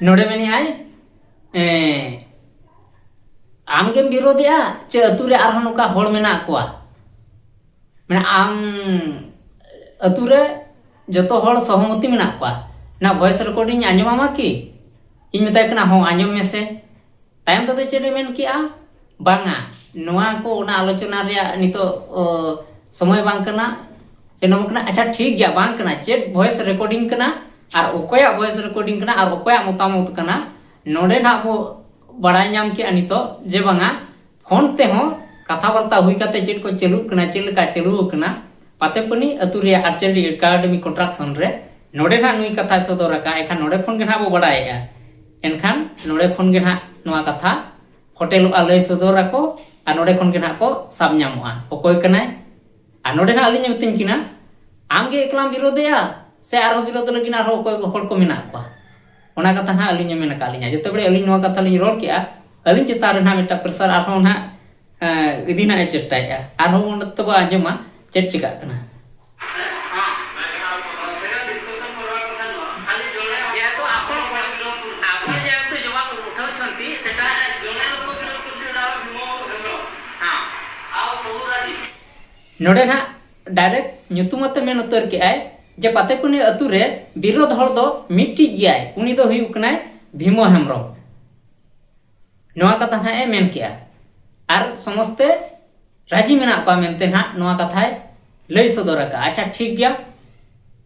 ᱱᱚᱰᱮ ᱢᱮᱱᱮᱫ ᱟᱭ ᱟᱢᱜᱮᱢ ᱵᱤᱨᱳᱫᱮᱜᱼᱟ ᱪᱮ ᱟᱹᱛᱩ ᱨᱮ ᱟᱨᱦᱚᱸ ᱱᱚᱝᱠᱟ ᱦᱚᱲ ᱢᱮᱱᱟᱜ ᱠᱚᱣᱟ ᱢᱟᱱᱮ ᱟᱢ ᱟᱹᱛᱩ ᱨᱮ ᱡᱚᱛᱚ ᱦᱚᱲ ᱥᱚᱦᱚᱢᱚᱛᱤ ᱢᱮᱱᱟᱜ ᱠᱚᱣᱟ ᱚᱱᱟ ᱵᱷᱚᱭᱮᱥ ᱨᱮᱠᱚᱨᱰᱤᱝ ᱟᱸᱡᱚᱢᱟᱢᱟ ᱠᱤ ᱤᱧ ᱢᱮᱛᱟᱭ ᱠᱟᱱᱟ ᱦᱚᱸ ᱟᱸᱡᱚᱢ ᱢᱮᱥᱮ ᱛᱟᱭᱚᱢ ᱛᱮᱫᱚ ᱪᱮᱫ ᱮ ᱢᱮᱱ ᱠᱮᱜᱼᱟ ᱵᱟᱝᱟ ᱱᱚᱣᱟ ᱠᱚ ᱚᱱᱟ ᱟᱞᱳᱪᱚᱱᱟ ᱨᱮᱭᱟᱜ ᱱᱤᱛᱚᱜ ᱥᱚᱢᱚᱭ ᱵᱟᱝ ᱠᱟᱱᱟ ᱥᱮ ᱱᱚᱣᱟ ᱠᱟᱱᱟ ᱟᱪᱪᱷᱟ ᱴᱷᱤᱠ ᱜᱮᱭᱟ ᱵᱟᱝ ᱠᱟᱱᱟ ᱪᱮᱫ ᱵᱷᱚᱭᱮᱥ ᱨᱮᱠᱚᱨᱰᱤᱝ ᱠᱟᱱᱟ ᱟᱨ ᱚᱠᱚᱭᱟᱜ ᱵᱷᱚᱭᱮᱥ ᱨᱮᱠᱚᱨᱰᱤᱝ ᱠᱟᱱᱟ ᱟᱨ ᱚᱠᱚᱭᱟᱜ ᱢᱚᱛᱟᱢᱚᱛ ᱠᱟᱱᱟ ᱱᱚᱰᱮ ᱱᱟᱜ ᱵᱚ ᱵᱟᱲᱟᱭ ᱧᱟᱢ ᱠᱮᱜᱼᱟ ᱱᱤᱛᱚᱜ ᱡᱮ ᱵᱟᱝᱟ ᱯᱷᱳᱱ ᱛᱮᱦᱚᱸ ᱠᱟᱛᱷᱟ ᱵᱟᱨᱛᱟ ᱦᱩᱭ ᱠᱟᱛᱮ ᱪᱮᱫ ᱠᱚ ᱪᱟᱹᱞᱩᱜ ᱠᱟᱱᱟ ᱪᱮᱫ ᱞᱮᱠᱟ ᱪᱟᱹᱞᱩ ᱟᱠᱟᱱᱟ ᱯᱟᱛᱮᱯᱟᱹᱱᱤ ᱟᱹᱛᱩ ᱨᱮᱭᱟᱜ ᱟᱨᱪᱟᱨᱤ ᱮᱠᱟᱰᱮᱢᱤ ᱠᱚᱱᱴᱨᱟᱠᱥᱚᱱ ᱨᱮ ᱱᱚᱰᱮ ᱱᱟᱜ ᱱᱩᱭ ᱠᱟᱛᱷᱟ ᱥᱚᱫᱚᱨ ᱟᱠᱟᱫ ᱮᱠᱷᱟᱱ ᱱᱚᱰᱮ ᱠᱷᱚᱱ ᱜᱮ ᱱᱟᱜ ᱵᱚ ᱵᱟᱲᱟᱭᱮᱜᱼᱟ ᱮᱱᱠᱷᱟᱱ ᱱᱚᱰᱮ ᱠᱷᱚᱱ ᱜᱮ ᱱᱟᱦᱟᱜ ᱱᱚᱣᱟ ᱠᱟᱛᱷᱟ ᱯᱷᱚᱴᱮᱞᱚᱜᱼᱟ ᱞᱟᱹᱭ ᱥᱚᱫᱚᱨ ᱟᱠᱚ ᱟᱨ ᱱᱚᱰᱮ ᱠᱷᱚᱱ ᱜᱮ ᱱᱟᱦᱟᱜ ᱠᱚ ᱥᱟᱵ ᱧᱟᱢᱚᱜᱼᱟ ᱚᱠᱚᱭ ᱠᱟᱱᱟᱭ ᱟᱨ ᱱᱚᱰᱮ ᱱᱟᱦᱟᱜ ᱟᱹᱞᱤᱧ ᱢᱤᱛᱟᱹᱧ ᱠᱤᱱᱟ ᱟᱢ ᱜᱮ ᱮᱠᱞᱟᱢ ᱵᱤᱨᱳᱫᱮᱜᱼᱟ ᱥᱮ ᱟᱨᱦᱚᱸ ᱵᱤᱨᱳᱫ ᱞᱟᱹᱜᱤᱫ ᱟᱨᱦᱚᱸ ᱚᱠᱚᱭ ᱠᱚ ᱦᱚᱲ ᱠᱚ ᱢᱮᱱᱟᱜ ᱠᱚᱣᱟ ᱚᱱᱟ ᱠᱟᱛᱷᱟ ᱱᱟᱦᱟᱜ ᱟᱹᱞᱤᱧ ᱢᱮᱱ ᱟᱠᱟᱫ ᱞᱤᱧᱟ ᱡᱮᱛᱮ ᱵᱟᱨᱮ ᱟᱹᱞᱤᱧ ᱱᱚᱣᱟ ᱠᱟᱛᱷᱟ ᱞᱤᱧ ᱨᱚᱲ ᱠᱮᱜᱼᱟ ᱟᱹᱞᱤᱧ ᱪᱮᱛᱟᱱ ᱨᱮ ᱱᱟᱦᱟᱜ ᱢᱤᱫᱴᱟᱝ ᱯᱨᱮᱥᱟᱨ ᱟᱨᱦᱚᱸ ᱱᱟᱦᱟᱜ ᱤᱫᱤ ᱨᱮᱱᱟᱜ ᱮ ᱪᱮᱥᱴᱟᱭᱮᱫᱼᱟ ᱟᱨᱦᱚᱸ ᱩᱱ ᱚᱠᱛᱚ ᱵᱚ ᱟᱸᱡᱚᱢᱟ ᱪᱮᱫ ᱪᱤᱠᱟᱹᱜ ᱠᱟᱱᱟ ᱱᱚᱰᱮ ᱱᱟᱜ ᱰᱟᱭᱨᱮᱠᱴ ᱧᱩᱛᱩᱢ ᱟᱛᱮ ᱢᱮᱱ ᱩᱛᱟᱹᱨ ᱠᱮᱜᱼᱟᱭ ᱡᱮ ᱯᱟᱛᱮᱠᱩᱱᱤ ᱟᱹᱛᱩ ᱨᱮ ᱵᱤᱨᱳᱫᱷ ᱦᱚᱲ ᱫᱚ ᱢᱤᱫᱴᱤᱡ ᱜᱮᱭᱟᱭ ᱩᱱᱤ ᱫᱚ ᱦᱩᱭᱩᱜ ᱠᱟᱱᱟᱭ ᱵᱷᱤᱢᱚ ᱦᱮᱢᱵᱨᱚᱢ ᱱᱚᱣᱟ ᱠᱟᱛᱷᱟ ᱱᱟᱦᱟᱜ ᱮ ᱢᱮᱱ ᱠᱮᱜᱼᱟ ᱟᱨ ᱥᱚᱢᱚᱥᱛᱮ ᱨᱟᱡᱤ ᱢᱮᱱᱟᱜ ᱠᱚᱣᱟ ᱢᱮᱱᱛᱮ ᱱᱟᱦᱟᱜ ᱱᱚᱣᱟ ᱠᱟᱛᱷᱟᱭ ᱞᱟᱹᱭ ᱥᱚᱫᱚᱨ ᱟᱠᱟᱜᱼᱟ ᱟᱪᱪᱷᱟ ᱴᱷᱤᱠ ᱜᱮᱭᱟ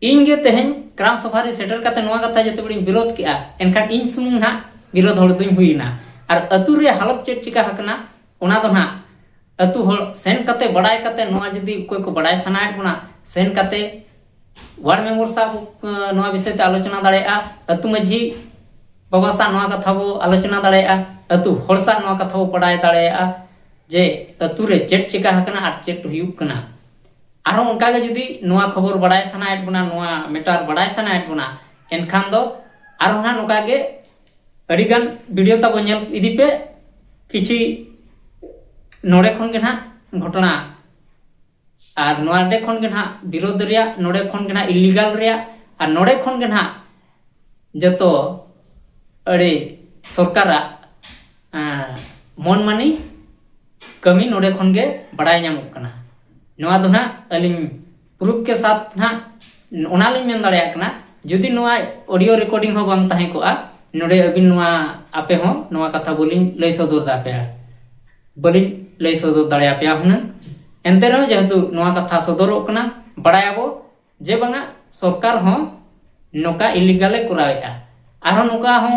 ᱤᱧ ᱜᱮ ᱛᱮᱦᱮᱧ ᱠᱨᱟᱢ ᱥᱚᱵᱷᱟ ᱨᱮ ᱥᱮᱴᱮᱨ ᱠᱟᱛᱮ ᱱᱚᱣᱟ ᱠᱟᱛᱷᱟ ᱡᱮᱛᱮ ᱵᱮᱲᱤᱧ ᱵᱤᱨᱳᱫ ᱠᱮᱜᱼᱟ ᱮᱱᱠᱷᱟᱱ ᱤᱧ ᱥᱩᱢᱩᱝ ᱱᱟᱦᱟᱜ ᱵᱤᱨᱳᱫ ᱦᱚᱲ ᱫᱩᱧ ᱦᱩᱭᱱᱟ ᱟᱨ ᱟᱹᱛᱩ ᱨᱮ ᱦᱟᱞᱚᱛ ᱪᱮᱫ ᱪᱤᱠᱟ ᱦᱟᱠᱟᱱᱟ ᱚᱱᱟ ᱫᱚ ᱱᱟᱦᱟᱜ ᱟᱹᱛᱩ ᱦᱚᱲ ᱥᱮᱱ ᱠᱟᱛᱮ ᱵᱟᱲᱟᱭ ᱠᱟᱛᱮ ᱱᱚᱣᱟ ᱡᱩᱫᱤ ᱚᱠᱚᱭ ᱠᱚ ᱵᱟᱲᱟᱭ ᱥᱟᱱᱟᱭᱮᱫ ᱵᱚᱱᱟ ᱥᱮᱱ ᱠᱟᱛᱮ ᱣᱟᱨᱰ ᱢᱮᱢᱵᱚᱨ ᱥᱟᱵ ᱱᱚᱣᱟ ᱵᱤᱥᱚᱭ ᱛᱮ ᱟᱞᱳᱪᱚᱱᱟ ᱫᱟᱲᱮᱭᱟᱜᱼᱟ ᱟᱹᱛᱩ ᱢᱟᱹᱡᱷᱤ ᱵᱟᱵᱟ ᱥᱟᱵ ᱱᱚᱣᱟ ᱠᱟᱛᱷᱟ ᱵᱚ ᱟᱞᱳᱪᱚᱱᱟ ᱫᱟᱲᱮᱭᱟᱜᱼᱟ ᱟᱹᱛᱩ ᱦᱚᱲ ᱥᱟᱵ ᱱᱚᱣᱟ ᱠᱟᱛᱷᱟ ᱵᱚ ᱵᱟᱰᱟᱭ ᱫᱟᱲᱮᱭᱟᱜᱼᱟ ᱡᱮ ᱟᱹᱛᱩ ᱨᱮ ᱪᱮᱫ ᱪᱮᱠᱟ ᱟᱠᱟᱱᱟ ᱟᱨ ᱪᱮᱫ ᱦᱩᱭᱩᱜ ᱠᱟᱱᱟ ᱟᱨᱦᱚᱸ ᱚᱱᱠᱟ ᱜᱮ ᱡᱩᱫᱤ ᱱᱚᱣᱟ ᱠᱷᱚᱵᱚᱨ ᱵᱟᱰᱟᱭ ᱥᱟᱱᱟᱭᱮᱫ ᱵᱚᱱᱟ ᱱᱚᱣᱟ ᱢᱮᱴᱟᱨ ᱵᱟᱰᱟᱭ ᱥᱟᱱᱟᱭᱮᱫ ᱵᱚᱱᱟ ᱮᱱᱠᱷᱟᱱ ᱫᱚ ᱟᱨᱦᱚᱸ ᱱᱟᱦᱟᱜ ᱱᱚᱝᱠᱟ ᱜᱮ ᱟᱹᱰᱤ ᱜᱟᱱ ᱵᱷᱤᱰᱤᱭᱳ ᱛᱟᱵᱚ ᱧᱮᱞ ᱤᱫᱤ ᱯᱮ ᱠᱤᱪᱷᱤ ᱱᱚᱰᱮ ᱠᱷᱚᱱ ᱜᱮ ᱱᱟᱦᱟᱜ ᱜᱷᱚᱴᱚᱱᱟ ᱟᱨ ᱱᱚᱰᱮ ᱠᱷᱚᱱ ᱜᱮ ᱱᱟᱦᱟᱜ ᱵᱤᱨᱳᱫᱷ ᱨᱮᱭᱟᱜ ᱱᱚᱰᱮ ᱠᱷᱚᱱ ᱜᱮ ᱱᱟᱦᱟᱜ ᱤᱞᱤᱜᱟᱞ ᱨᱮᱭᱟᱜ ᱟᱨ ᱱᱚᱰᱮ ᱠᱷᱚᱱ ᱜᱮ ᱱᱟᱦᱟᱜ ᱡᱚᱛᱚ ᱟᱹᱰᱤ ᱥᱚᱨᱠᱟᱨᱟᱜ ᱢᱚᱱ ᱢᱟᱹᱱᱤ ᱠᱟᱹᱢᱤ ᱱᱚᱰᱮ ᱠᱷᱚᱱ ᱜᱮ ᱵᱟᱲᱟᱭ ᱧᱟᱢᱚᱜ ᱠᱟᱱᱟ ᱱᱚᱣᱟ ᱫᱚ ᱱᱟᱦᱟᱜ ᱟᱹᱞᱤᱧ ᱯᱨᱩᱯᱷ ᱠᱮ ᱥᱟᱛ ᱱᱟᱦᱟᱜ ᱚᱱᱟ ᱞᱤᱧ ᱢᱮᱱ ᱫᱟᱲᱮᱭᱟᱜ ᱠᱟᱱᱟ ᱡᱩᱫᱤ ᱱᱚᱣᱟ ᱚᱰᱤᱭᱳ ᱨᱮᱠᱚᱨᱰᱤᱝ ᱦᱚᱸ ᱵᱟᱝ ᱛᱟᱦᱮᱸ ᱠᱚᱜᱼᱟ ᱱᱚᱰᱮ ᱟᱹᱵᱤᱱ ᱱᱚᱣᱟ ᱟᱯᱮ ᱦᱚᱸ ᱱᱚᱣᱟ ᱠᱟᱛᱷᱟ ᱵᱟᱹᱞᱤᱧ ᱞᱟᱹᱭ ᱥᱚᱫᱚᱨ ᱫᱟᱯᱮᱭᱟ ᱵᱟᱹᱞᱤᱧ ᱞᱟᱹᱭ ᱥᱚᱫᱚᱨ ᱫᱟᱲᱮᱭᱟᱯᱮᱭᱟ ᱦᱩᱱᱟᱹᱝ ᱮᱱᱛᱮ ᱨᱮᱦᱚᱸ ᱡᱮᱦᱮᱛᱩ ᱱᱚᱣᱟ ᱠᱟᱛᱷᱟ ᱥᱚᱫᱚᱨᱚᱜ ᱠᱟᱱᱟ ᱵᱟᱲᱟᱭᱟᱵᱚ ᱡᱮ ᱵᱟᱝᱟ ᱥᱚᱨᱠᱟᱨ ᱦᱚᱸ ᱱᱚᱝᱠᱟ ᱤᱞᱤᱜᱟᱞᱮ ᱠᱚᱨᱟᱣᱮᱫᱼᱟ ᱟᱨᱦᱚᱸ ᱱᱚᱝᱠᱟ ᱦᱚᱸ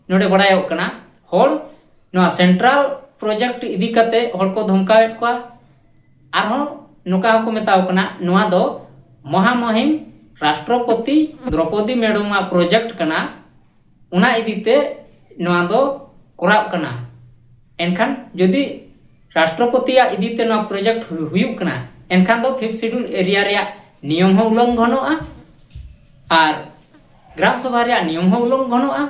ᱱᱚᱰᱮ ᱵᱟᱲᱟᱭᱚᱜ ᱠᱟᱱᱟ ᱦᱚᱲ ᱱᱚᱣᱟ ᱥᱮᱱᱴᱨᱟᱞ ᱯᱨᱚᱡᱮᱠᱴ ᱤᱫᱤ ᱠᱟᱛᱮ ᱦᱚᱲ ᱠᱚ ᱫᱷᱚᱢᱠᱟᱣᱮᱫ ᱠᱚᱣᱟ ᱟᱨᱦᱚᱸ ᱱᱚᱝᱠᱟ ᱦᱚᱸᱠᱚ ᱢᱮᱛᱟᱣ ᱠᱟᱱᱟ ᱱᱚᱣᱟ ᱫᱚ ᱢᱚᱦᱟᱢᱚᱦᱤᱢ ᱨᱟᱥᱴᱨᱚᱯᱚᱛᱤ ᱫᱨᱚᱯᱚᱫᱤ ᱢᱮᱰᱚᱢᱟᱜ ᱯᱨᱚᱡᱮᱠᱴ ᱠᱟᱱᱟ ᱚᱱᱟ ᱤᱫᱤ ᱛᱮ ᱱᱚᱣᱟ ᱫᱚ ᱠᱚᱨᱟᱜ ᱠᱟᱱᱟ ᱮᱱᱠᱷᱟᱱ ᱡᱩᱫᱤ ᱨᱟᱥᱴᱨᱚᱯᱚᱛᱤᱭᱟᱜ ᱤᱫᱤ ᱛᱮ ᱱᱚᱣᱟ ᱯᱨᱚᱡᱮᱠᱴ ᱦᱩᱭᱩᱜ ᱠᱟᱱᱟ ᱮᱱᱠᱷᱟᱱ ᱫᱚ ᱯᱷᱤᱯᱛᱷ ᱥᱤᱰᱩᱞ ᱮᱨᱤᱭᱟ ᱨᱮᱭᱟᱜ ᱱᱤᱭᱚᱢ ᱦᱚᱸ ᱩᱞᱞᱚᱝᱜᱷᱚᱱᱚᱜᱼᱟ ᱟᱨ ᱜᱨᱟᱢ ᱥᱚᱵᱷᱟ ᱨᱮᱭᱟᱜ ᱱᱤᱭᱚᱢ ᱦᱚᱸ ᱩᱞᱞᱚᱝᱜᱷᱚᱱᱚᱜᱼᱟ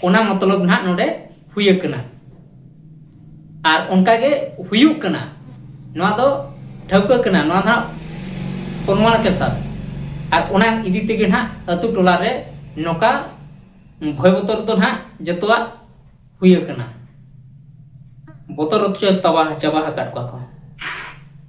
ᱚᱱᱟ ᱢᱚᱛᱞᱚᱵ ᱱᱟᱦᱟᱜ ᱱᱚᱰᱮ ᱦᱩᱭ ᱟᱠᱟᱱᱟ ᱟᱨ ᱚᱱᱠᱟ ᱜᱮ ᱦᱩᱭᱩᱜ ᱠᱟᱱᱟ ᱱᱚᱣᱟ ᱫᱚ ᱴᱷᱟᱹᱣᱠᱟᱹ ᱠᱟᱱᱟ ᱱᱚᱣᱟ ᱱᱟᱜ ᱯᱨᱚᱢᱟᱬ ᱠᱮ ᱥᱟᱛ ᱟᱨ ᱚᱱᱟ ᱤᱫᱤ ᱛᱮᱜᱮ ᱱᱟᱜ ᱟᱹᱛᱩ ᱴᱚᱞᱟ ᱨᱮ ᱱᱚᱝᱠᱟ ᱵᱷᱚᱭ ᱵᱚᱛᱚᱨ ᱫᱚ ᱱᱟᱜ ᱡᱚᱛᱚᱣᱟᱜ ᱦᱩᱭ ᱟᱠᱟᱱᱟ ᱵᱚᱛᱚᱨ ᱦᱚᱪᱚ ᱪᱟᱵᱟ ᱟᱠᱟᱫ ᱠᱚᱣᱟ ᱠᱚ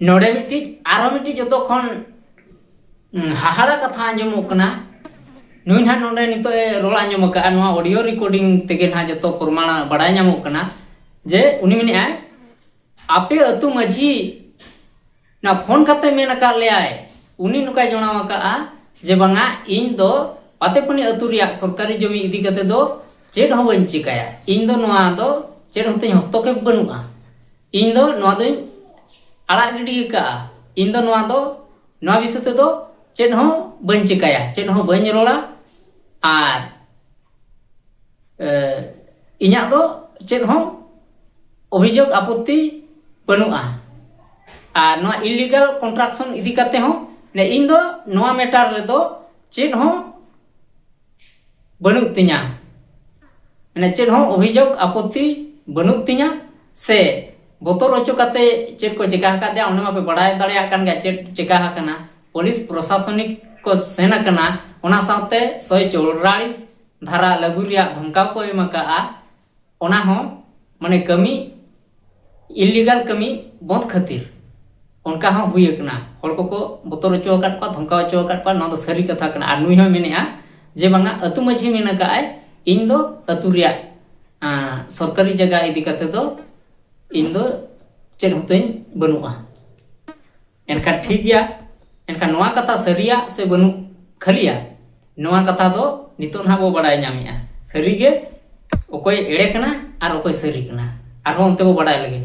ᱱᱚᱰᱮ ᱢᱤᱫᱴᱤᱡ ᱟᱨᱚ ᱢᱤᱫᱴᱤᱡ ᱡᱚᱛᱚ ᱠᱷᱚᱱ ᱦᱟᱦᱟᱲᱟ ᱠᱟᱛᱷᱟ ᱟᱸᱡᱚᱢᱚᱜ ᱠᱟᱱᱟ ᱱᱩᱭ ᱱᱟᱦᱟᱜ ᱱᱚᱰᱮ ᱱᱤᱛᱚᱜ ᱮ ᱨᱚᱲ ᱟᱸᱡᱚᱢ ᱟᱠᱟᱫᱼᱟ ᱱᱚᱣᱟ ᱚᱰᱤᱭᱳ ᱨᱮᱠᱚᱨᱰᱤᱝ ᱛᱮᱜᱮ ᱱᱟᱦᱟᱜ ᱡᱚᱛᱚ ᱯᱨᱚᱢᱟᱬ ᱵᱟᱲᱟᱭ ᱧᱟᱢᱚᱜ ᱠᱟᱱᱟ ᱡᱮ ᱩᱱᱤ ᱢᱮᱱᱮᱫᱼᱟᱭ ᱟᱯᱮ ᱟᱹᱛᱩ ᱢᱟᱺᱡᱷᱤ ᱱᱟ ᱯᱷᱳᱱ ᱠᱟᱛᱮ ᱢᱮᱱ ᱟᱠᱟᱫ ᱞᱮᱭᱟᱭ ᱩᱱᱤ ᱱᱚᱠᱟᱭ ᱡᱚᱱᱟᱣ ᱟᱠᱟᱫᱼᱟ ᱡᱮ ᱵᱟᱝᱟ ᱤᱧ ᱫᱚ ᱯᱟᱛᱮᱯᱟᱹᱱᱤ ᱟᱹᱛᱩ ᱨᱮᱭᱟᱜ ᱥᱚᱨᱠᱟᱨᱤ ᱡᱚᱢᱤ ᱤᱫᱤ ᱠᱟᱛᱮ ᱫᱚ ᱪᱮᱫ ᱦᱚᱸ ᱵᱟᱹᱧ ᱪᱤᱠᱟᱹᱭᱟ ᱤᱧ ᱫᱚ ᱱᱚᱣᱟ ᱫᱚ ᱪᱮᱫ ᱦᱚᱸ ᱛᱤᱧ ᱦᱚᱥᱛᱚᱠᱮᱯ ᱵᱟᱹᱱᱩᱜᱼᱟ ᱤᱧ ᱫᱚ ᱱᱚᱣᱟ ᱫᱚᱧ ᱟᱲᱟᱜ ᱜᱤᱰᱤ ᱟᱠᱟᱫᱼᱟ ᱤᱧ ᱫᱚ ᱱᱚᱣᱟ ᱫᱚ ᱱᱚᱣᱟ ᱵᱤᱥᱚᱭ ᱛᱮᱫᱚ ᱪᱮᱫ ᱦᱚᱸ ᱵᱟᱹᱧ ᱪᱤᱠᱟᱹᱭᱟ ᱪᱮᱫ ᱦᱚᱸ ᱵᱟᱹᱧ ᱨᱚᱲᱟ ᱟᱨ ᱤᱧᱟᱹᱜ ᱫᱚ ᱪᱮᱫ ᱦᱚᱸ ᱚᱵᱷᱤᱡᱳᱜᱽ ᱟᱯᱚᱛᱛᱤ ᱵᱟᱹᱱᱩᱜᱼᱟ ᱟᱨ ᱱᱚᱣᱟ ᱤᱞᱤᱜᱟᱞ ᱠᱚᱱᱴᱨᱟᱠᱥᱚᱱ ᱤᱫᱤ ᱠᱟᱛᱮ ᱦᱚᱸ ᱤᱧ ᱫᱚ ᱱᱚᱣᱟ ᱢᱮᱴᱟᱨ ᱨᱮᱫᱚ ᱪᱮᱫ ᱦᱚᱸ ᱵᱟᱹᱱᱩᱜ ᱛᱤᱧᱟ ᱢᱟᱱᱮ ᱪᱮᱫ ᱦᱚᱸ ᱚᱵᱷᱤᱡᱳᱜᱽ ᱟᱯᱚᱛᱛᱤ ᱵᱟᱹᱱᱩᱜ ᱛᱤᱧᱟ ᱥᱮ ᱵᱚᱛᱚᱨ ᱦᱚᱪᱚ ᱠᱟᱛᱮ ᱪᱮᱫ ᱠᱚ ᱪᱮᱠᱟ ᱟᱠᱟᱫᱮᱭᱟ ᱚᱱᱟ ᱢᱟᱯᱮ ᱵᱟᱲᱟᱭ ᱫᱟᱲᱮᱭᱟᱜ ᱠᱟᱱ ᱜᱮᱭᱟ ᱪᱮᱫ ᱪᱮᱠᱟ ᱟᱠᱟᱱᱟ ᱯᱩᱞᱤᱥ ᱯᱨᱚᱥᱟᱥᱚᱱᱤᱠ ᱠᱚ ᱥᱮᱱ ᱟᱠᱟᱱᱟ ᱚᱱᱟ ᱥᱟᱶᱛᱮ ᱥᱚᱭ ᱪᱚᱣᱨᱟᱲᱤᱥ ᱫᱷᱟᱨᱟ ᱞᱟᱹᱜᱩ ᱨᱮᱭᱟᱜ ᱫᱷᱚᱢᱠᱟᱣ ᱠᱚ ᱮᱢ ᱟᱠᱟᱫᱼᱟ ᱚᱱᱟ ᱦᱚᱸ ᱢᱟᱱᱮ ᱠᱟᱹᱢᱤ ᱤᱞᱤᱜᱟᱞ ᱠᱟᱹᱢᱤ ᱵᱚᱸᱫᱽ ᱠᱷᱟᱹᱛᱤᱨ ᱚᱱᱠᱟ ᱦᱚᱸ ᱦᱩᱭ ᱟᱠᱟᱱᱟ ᱦᱚᱲ ᱠᱚᱠᱚ ᱵᱚᱛᱚᱨ ᱦᱚᱪᱚ ᱟᱠᱟᱫ ᱠᱚᱣᱟ ᱫᱷᱚᱢᱠᱟᱣ ᱦᱚᱪᱚ ᱟᱠᱟᱫ ᱠᱚᱣᱟ ᱱᱚᱣᱟ ᱫᱚ ᱥᱟᱹᱨᱤ ᱠᱟᱛᱷᱟ ᱠᱟᱱᱟ ᱟᱨ ᱱᱩᱭ ᱦᱚᱸ ᱢᱮᱱᱮᱜᱼᱟ ᱡᱮ ᱵᱟᱝᱟ ᱟᱹᱛᱩ ᱢᱟᱺᱡᱷᱤ ᱢᱮᱱ ᱟᱠᱟᱫᱼᱟᱭ ᱤᱧ ᱫᱚ ᱟᱹᱛᱩ ᱨᱮᱭᱟᱜ ᱥᱚᱨᱠᱟᱨᱤ ᱡᱟᱭᱜᱟ ᱤᱫᱤ ᱠᱟᱛᱮ ᱫᱚ ᱤᱧ ᱫᱚ ᱪᱮᱫ ᱦᱚᱸᱛᱤᱧ ᱵᱟᱹᱱᱩᱜᱼᱟ ᱮᱱᱠᱷᱟᱱ ᱴᱷᱤᱠ ᱜᱮᱭᱟ ᱮᱱᱠᱷᱟᱱ ᱱᱚᱣᱟ ᱠᱟᱛᱷᱟ ᱥᱟᱹᱨᱤᱭᱟ ᱥᱮ ᱵᱟᱹᱱᱩᱜ ᱠᱷᱟᱹᱞᱤᱭᱟ ᱱᱚᱣᱟ ᱠᱟᱛᱷᱟ ᱫᱚ ᱱᱤᱛᱚᱜ ᱱᱟᱦᱟᱜ ᱵᱚ ᱵᱟᱰᱟᱭ ᱧᱟᱢᱮᱜᱼᱟ ᱥᱟᱹᱨᱤᱜᱮ ᱚᱠᱚᱭ ᱮᱲᱮ ᱠᱟᱱᱟ ᱟᱨ ᱚᱠᱚᱭ ᱥᱟᱹᱨᱤ ᱠᱟᱱᱟ ᱟᱨᱦᱚᱸ ᱚᱱᱛᱮ ᱵᱚ ᱵᱟᱰᱟᱭ ᱞᱟᱹᱜᱤᱫ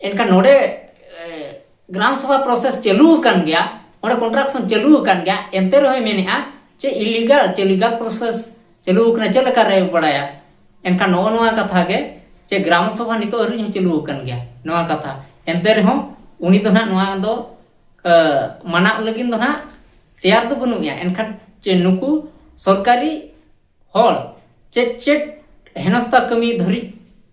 ᱮᱱᱠᱷᱟᱱ ᱱᱚᱰᱮ ᱜᱨᱟᱢ ᱥᱚᱵᱷᱟ ᱯᱨᱚᱥᱮᱥ ᱪᱟᱹᱞᱩ ᱟᱠᱟᱱ ᱜᱮᱭᱟ ᱚᱸᱰᱮ ᱠᱚᱱᱴᱨᱟᱠᱥᱚᱱ ᱪᱟᱹᱞᱩ ᱟᱠᱟᱱ ᱜᱮᱭᱟ ᱮᱱᱛᱮ ᱨᱮᱦᱚᱸᱭ ᱢᱮᱱᱮᱜᱼᱟ ᱪᱮ ᱤᱞᱤᱜᱟᱞ ᱪᱮ ᱞᱤᱜᱟᱞ ᱯᱨᱚᱥᱮᱥ ᱪᱟᱹᱞᱩ ᱟᱠᱟᱱᱟ ᱪᱮᱫ ᱞᱮᱠᱟ ᱨᱮ ᱵᱟᱲᱟᱭᱟ ᱮᱱᱠᱷᱟᱱ ᱱᱚᱜᱼᱚ ᱱᱚᱣᱟ ᱠᱟᱛᱷᱟ ᱜᱮ ᱪᱮ ᱜᱨᱟᱢ ᱥᱚᱵᱷᱟ ᱱᱤᱛᱚᱜ ᱟᱹᱣᱨᱤ ᱦᱚᱸ ᱪᱟᱹᱞᱩ ᱟᱠᱟᱱ ᱜᱮᱭᱟ ᱱᱚᱣᱟ ᱠᱟᱛᱷᱟ ᱮᱱᱛᱮ ᱨᱮᱦᱚᱸ ᱩᱱᱤ ᱫᱚ ᱱᱟᱦᱟᱜ ᱱᱚᱣᱟ ᱫᱚ ᱢᱟᱱᱟᱜ ᱞᱟᱹᱜᱤᱫ ᱫᱚ ᱱᱟᱦᱟᱜ ᱛᱮᱭᱟᱨ ᱫᱚ ᱵᱟᱹᱱᱩᱜ ᱮᱭᱟ ᱮᱱᱠᱷᱟᱱ ᱪᱮ ᱱᱩᱠᱩ ᱥᱚᱨᱠᱟᱨᱤ ᱦᱚᱲ ᱪᱮᱫ ᱪᱮᱫ ᱦᱮᱱᱚᱥᱛᱟ ᱠᱟᱹᱢᱤ ᱫᱷᱟᱹᱨᱤᱡ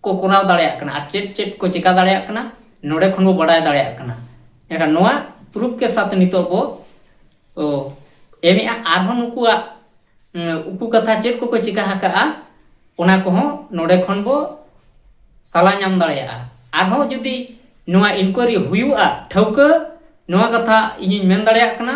ᱠᱚ ᱠᱚᱨᱟᱣ ᱫᱟᱲᱮᱭᱟᱜ ᱠᱟᱱᱟ ᱟᱨ ᱪᱮᱫ ᱪᱮᱫ ᱠᱚ ᱪᱮᱠᱟ ᱫᱟᱲᱮᱭᱟᱜ ᱠᱟᱱᱟ ᱱᱚᱰᱮ ᱠᱷᱚᱱ ᱵᱚ ᱵᱟᱰᱟᱭ ᱫᱟᱲᱮᱭᱟᱜ ᱠᱟᱱᱟ ᱮᱱᱠᱷᱟᱱ ᱱᱚᱣᱟ ᱯᱨᱩᱯᱷ ᱠᱮ ᱥᱟᱛ ᱱᱤᱛᱚᱜ ᱵᱚ ᱮᱢᱮᱜᱼᱟ ᱟᱨᱦᱚᱸ ᱱᱩᱠᱩᱣᱟᱜ ᱩᱠᱩ ᱠᱟᱛᱷᱟ ᱪᱮᱫ ᱠᱚᱠᱚ ᱪᱮᱠᱟ ᱟᱠᱟᱜᱼᱟ ᱚᱱᱟ ᱠᱚᱦᱚᱸ ᱱᱚᱰᱮ ᱠᱷᱚᱱ ᱵᱚ ᱥᱟᱞᱟ ᱧᱟᱢ ᱫᱟᱲᱮᱭᱟᱜᱼᱟ ᱟᱨᱦᱚᱸ ᱡᱩᱫᱤ ᱱᱚᱣᱟ ᱤᱱᱠᱩᱭᱟᱨᱤ ᱦᱩᱭᱩᱜᱼᱟ ᱴᱷᱟᱹᱣᱠᱟᱹ ᱱᱚᱣᱟ ᱠᱟᱛᱷᱟ ᱤᱧᱤᱧ ᱢᱮᱱ ᱫᱟᱲᱮᱭᱟᱜ ᱠᱟᱱᱟ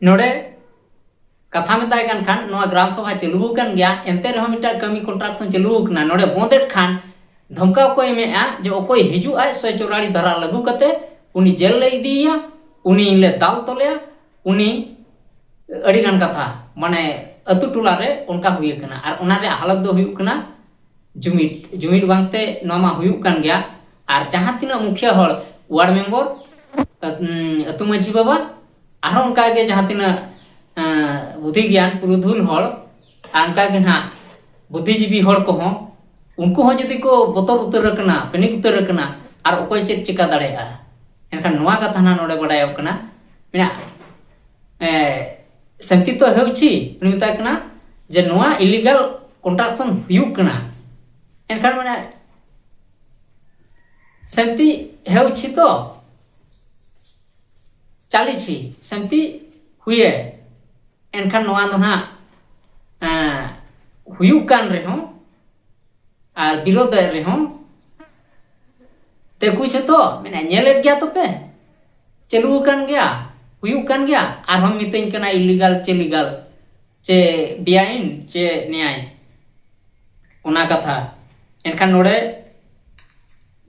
ᱱᱚᱰᱮ ᱠᱟᱛᱷᱟ ᱢᱮᱛᱟᱭ ᱠᱟᱱ ᱠᱷᱟᱱ ᱱᱚᱣᱟ ᱜᱨᱟᱢ ᱥᱚᱵᱷᱟ ᱪᱟᱹᱞᱩ ᱟᱠᱟᱱ ᱜᱮᱭᱟ ᱮᱱᱛᱮ ᱨᱮᱦᱚᱸ ᱢᱤᱫᱴᱟᱝ ᱠᱟᱹᱢᱤ ᱠᱚᱱᱴᱨᱟᱠᱥᱚᱱ ᱪᱟᱹᱞᱩ ᱟᱠᱟᱱᱟ ᱱᱚᱰᱮ ᱵᱚᱸᱫᱮᱫ ᱠᱷᱟᱱ ᱫᱷᱚᱢᱠᱟᱣ ᱠᱚ ᱮᱢᱮᱜᱼᱟ ᱡᱮ ᱚᱠᱚᱭ ᱦᱤᱡᱩᱜ ᱟᱭ ᱥᱚᱭ ᱪᱚᱨᱟᱲᱤ ᱫᱷᱟᱨᱟ ᱞᱟᱹᱜᱩ ᱠᱟᱛᱮ ᱩᱱᱤ ᱡᱮᱞ ᱞᱮ ᱤᱫᱤᱭᱮᱭᱟ ᱩᱱᱤ ᱞᱮ ᱫᱟᱞ ᱛᱚᱞᱮᱭᱟ ᱩᱱᱤ ᱟᱹᱰᱤ ᱜᱟᱱ ᱠᱟᱛᱷᱟ ᱢᱟᱱᱮ ᱟᱹᱛᱩ ᱴᱚᱞᱟ ᱨᱮ ᱚᱱᱠᱟ ᱦᱩᱭ ᱟᱠᱟᱱᱟ ᱟᱨ ᱚᱱᱟ ᱨᱮᱭᱟᱜ ᱦᱟᱞᱚᱛ ᱫᱚ ᱦᱩᱭᱩᱜ ᱠᱟᱱᱟ ᱡᱩᱢᱤᱫ ᱡᱩᱢᱤᱫ ᱵᱟᱝᱛᱮ ᱱᱚᱣᱟ ᱢᱟ ᱦᱩᱭᱩᱜ ᱠᱟᱱ ᱜᱮᱭᱟ ᱟᱨ ᱡᱟᱦᱟᱸ ᱛᱤᱱᱟᱹᱜ ᱢᱩᱠᱷᱤᱭᱟᱹ ᱦᱚᱲ ᱣᱟᱨᱰ ᱢᱮᱢᱵᱚᱨ ᱟᱹᱛᱩ ᱢᱟᱺᱡᱷᱤ ᱵᱟᱵᱟ ᱟᱨᱦᱚᱸ ᱚᱱᱠᱟᱜᱮ ᱡᱟᱦᱟᱸ ᱛᱤᱱᱟᱹᱜ ᱵᱩᱫᱷᱤ ᱜᱮᱭᱟᱱ ᱯᱩᱨᱩᱫᱷᱩᱞ ᱦᱚᱲ ᱟᱨ ᱚᱱᱠᱟᱜᱮ ᱱᱟᱦᱟᱜ ᱵᱩᱫᱷᱤᱡᱤᱵᱤ ᱦᱚᱲ ᱠᱚᱦᱚᱸ ᱩᱱᱠᱩ ᱦᱚᱸ ᱡᱩᱫᱤ ᱠᱚ ᱵᱚᱛᱚᱨ ᱩᱛᱟᱹᱨ ᱟᱠᱟᱱᱟ ᱯᱮᱱᱤᱠ ᱩᱛᱟᱹᱨ ᱟᱠᱟᱱᱟ ᱟᱨ ᱚᱠᱚᱭ ᱪᱮᱫ ᱪᱤᱠᱟ ᱫᱟᱲᱮᱭᱟᱜᱼᱟ ᱮᱱᱠᱷᱟᱱ ᱱᱚᱣᱟ ᱠᱟᱛᱷᱟ ᱱᱟᱦᱟᱜ ᱱᱚᱰᱮ ᱵᱟᱰᱟᱭᱚᱜ ᱠᱟᱱᱟ ᱢᱮᱱᱟᱜᱼᱟ ᱥᱟᱱᱛᱤ ᱛᱚ ᱦᱮᱣᱪᱤ ᱩᱱᱤ ᱢᱮᱛᱟᱭ ᱠᱟᱱᱟ ᱡᱮ ᱱᱚᱣᱟ ᱤᱞᱤᱜᱟᱞ ᱠᱚᱱᱴᱨᱟᱠᱥᱚᱱ ᱦᱩᱭᱩᱜ ᱠᱟᱱᱟ ᱮᱱᱠᱷᱟᱱ ᱢᱟᱱᱮ ᱥᱟᱱᱛᱤ ᱦᱮᱣᱪᱤ ᱛᱚ ᱪᱟᱞᱤᱪᱤ ᱥᱟᱱᱛᱤ ᱦᱩᱭᱮ ᱮᱱᱠᱷᱟᱱ ᱱᱚᱣᱟ ᱫᱚ ᱦᱟᱸᱜ ᱦᱩᱭᱩᱜ ᱠᱟᱱ ᱨᱮᱦᱚᱸ ᱟᱨ ᱵᱤᱨᱳᱫᱷ ᱨᱮᱦᱚᱸ ᱛᱮᱠᱩ ᱡᱷᱚᱛᱚ ᱢᱮᱱᱟ ᱧᱮᱞᱮᱫ ᱜᱮᱭᱟ ᱛᱚᱯᱮ ᱪᱟᱹᱞᱩ ᱟᱠᱟᱱ ᱜᱮᱭᱟ ᱦᱩᱭᱩᱜ ᱠᱟᱱ ᱜᱮᱭᱟ ᱟᱨᱦᱚᱸ ᱢᱤᱛᱟᱹᱧ ᱠᱟᱱᱟ ᱤᱞᱤᱜᱟᱞ ᱪᱮ ᱞᱤᱜᱟᱞ ᱪᱮ ᱵᱮᱭᱟᱭᱤᱱ ᱪᱮ ᱱᱮᱭᱟᱭ ᱚᱱᱟ ᱠᱟᱛᱷᱟ ᱮᱱᱠᱷᱟᱱ ᱱᱚᱰᱮ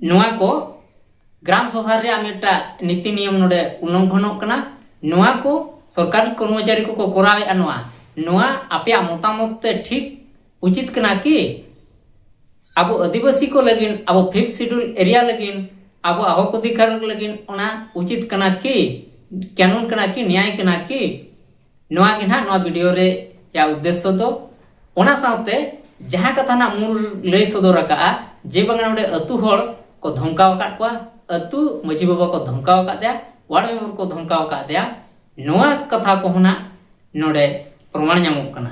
ᱱᱚᱣᱟ ᱠᱚ ᱜᱨᱟᱢ ᱥᱚᱵᱷᱟ ᱨᱮᱭᱟᱜ ᱢᱤᱫᱴᱟᱝ ᱱᱤᱛᱤ ᱱᱤᱭᱚᱢ ᱱᱚᱰᱮ ᱩᱞᱞᱚᱝᱜᱷᱚᱱᱚᱜ ᱠᱟᱱᱟ ᱱᱚᱣᱟ ᱠᱚ ᱥᱚᱨᱠᱟᱨᱤ ᱠᱚᱨᱢᱚᱪᱟᱨᱤ ᱠᱚᱠᱚ ᱠᱚᱨᱟᱣᱮᱫᱼᱟ ᱱᱚᱣᱟ ᱱᱚᱣᱟ ᱟᱯᱮᱭᱟᱜ ᱢᱚᱛᱟᱢᱚᱛ ᱛᱮ ᱴᱷᱤᱠ ᱩᱪᱤᱛ ᱠᱟᱱᱟ ᱠᱤ ᱟᱵᱚ ᱟᱹᱫᱤᱵᱟᱹᱥᱤ ᱠᱚ ᱞᱟᱹᱜᱤᱫ ᱟᱵᱚ ᱯᱷᱤᱯᱛᱷ ᱥᱤᱰᱩᱞ ᱮᱨᱤᱭᱟ ᱞᱟᱹᱜᱤᱫ ᱟᱵᱚ ᱦᱚᱠ ᱚᱫᱷᱤᱠᱟᱨ ᱞᱟᱹᱜᱤᱫ ᱚᱱᱟ ᱩᱪᱤᱛ ᱠᱟᱱᱟ ᱠᱤ ᱠᱟᱹᱱᱩᱱ ᱠᱟᱱᱟ ᱠᱤ ᱱᱮᱭᱟᱭ ᱠᱟᱱᱟ ᱠᱤ ᱱᱚᱣᱟ ᱜᱮ ᱱᱟᱦᱟᱜ ᱱᱚᱣᱟ ᱵᱷᱤᱰᱤᱭᱳ ᱨᱮ ᱭᱟ ᱩᱫᱽᱫᱮᱥᱥᱚ ᱫᱚ ᱚᱱᱟ ᱥᱟᱶᱛᱮ ᱡᱟᱦᱟᱸ ᱠᱟᱛᱷᱟ ᱱᱟᱜ ᱢᱩᱞ ᱞᱟᱹᱭ ᱥᱚᱫᱚᱨ ᱟᱠᱟᱜᱼᱟ ᱡᱮ ᱵᱟᱝᱟ ᱱᱚᱰᱮ ᱟᱹᱛᱩ ᱦᱚᱲ ᱠᱚ ᱫᱷᱚᱢᱠᱟᱣ ᱟᱠᱟᱫ ᱠᱚᱣᱟ ᱟᱹᱛᱩ ᱢᱟᱹᱡᱷᱤ ᱵᱟᱵᱟ ᱠᱚ ᱫᱷᱚᱢᱠᱟᱣ ᱟᱠᱟᱫ ᱫᱮᱭᱟ ᱣᱟᱨᱰ ᱢᱮᱢᱵᱚᱨ ᱠᱚ ᱫᱷᱚᱢᱠᱟᱣ ᱟᱠᱟᱫ ᱫᱮᱭᱟ ᱱᱚᱣᱟ ᱠᱟᱛᱷᱟ ᱠᱚᱦᱚᱸ ᱱᱟᱜ ᱱᱚᱰᱮ ᱯᱨᱚᱢᱟᱬ ᱧᱟᱢᱚᱜ ᱠᱟᱱᱟ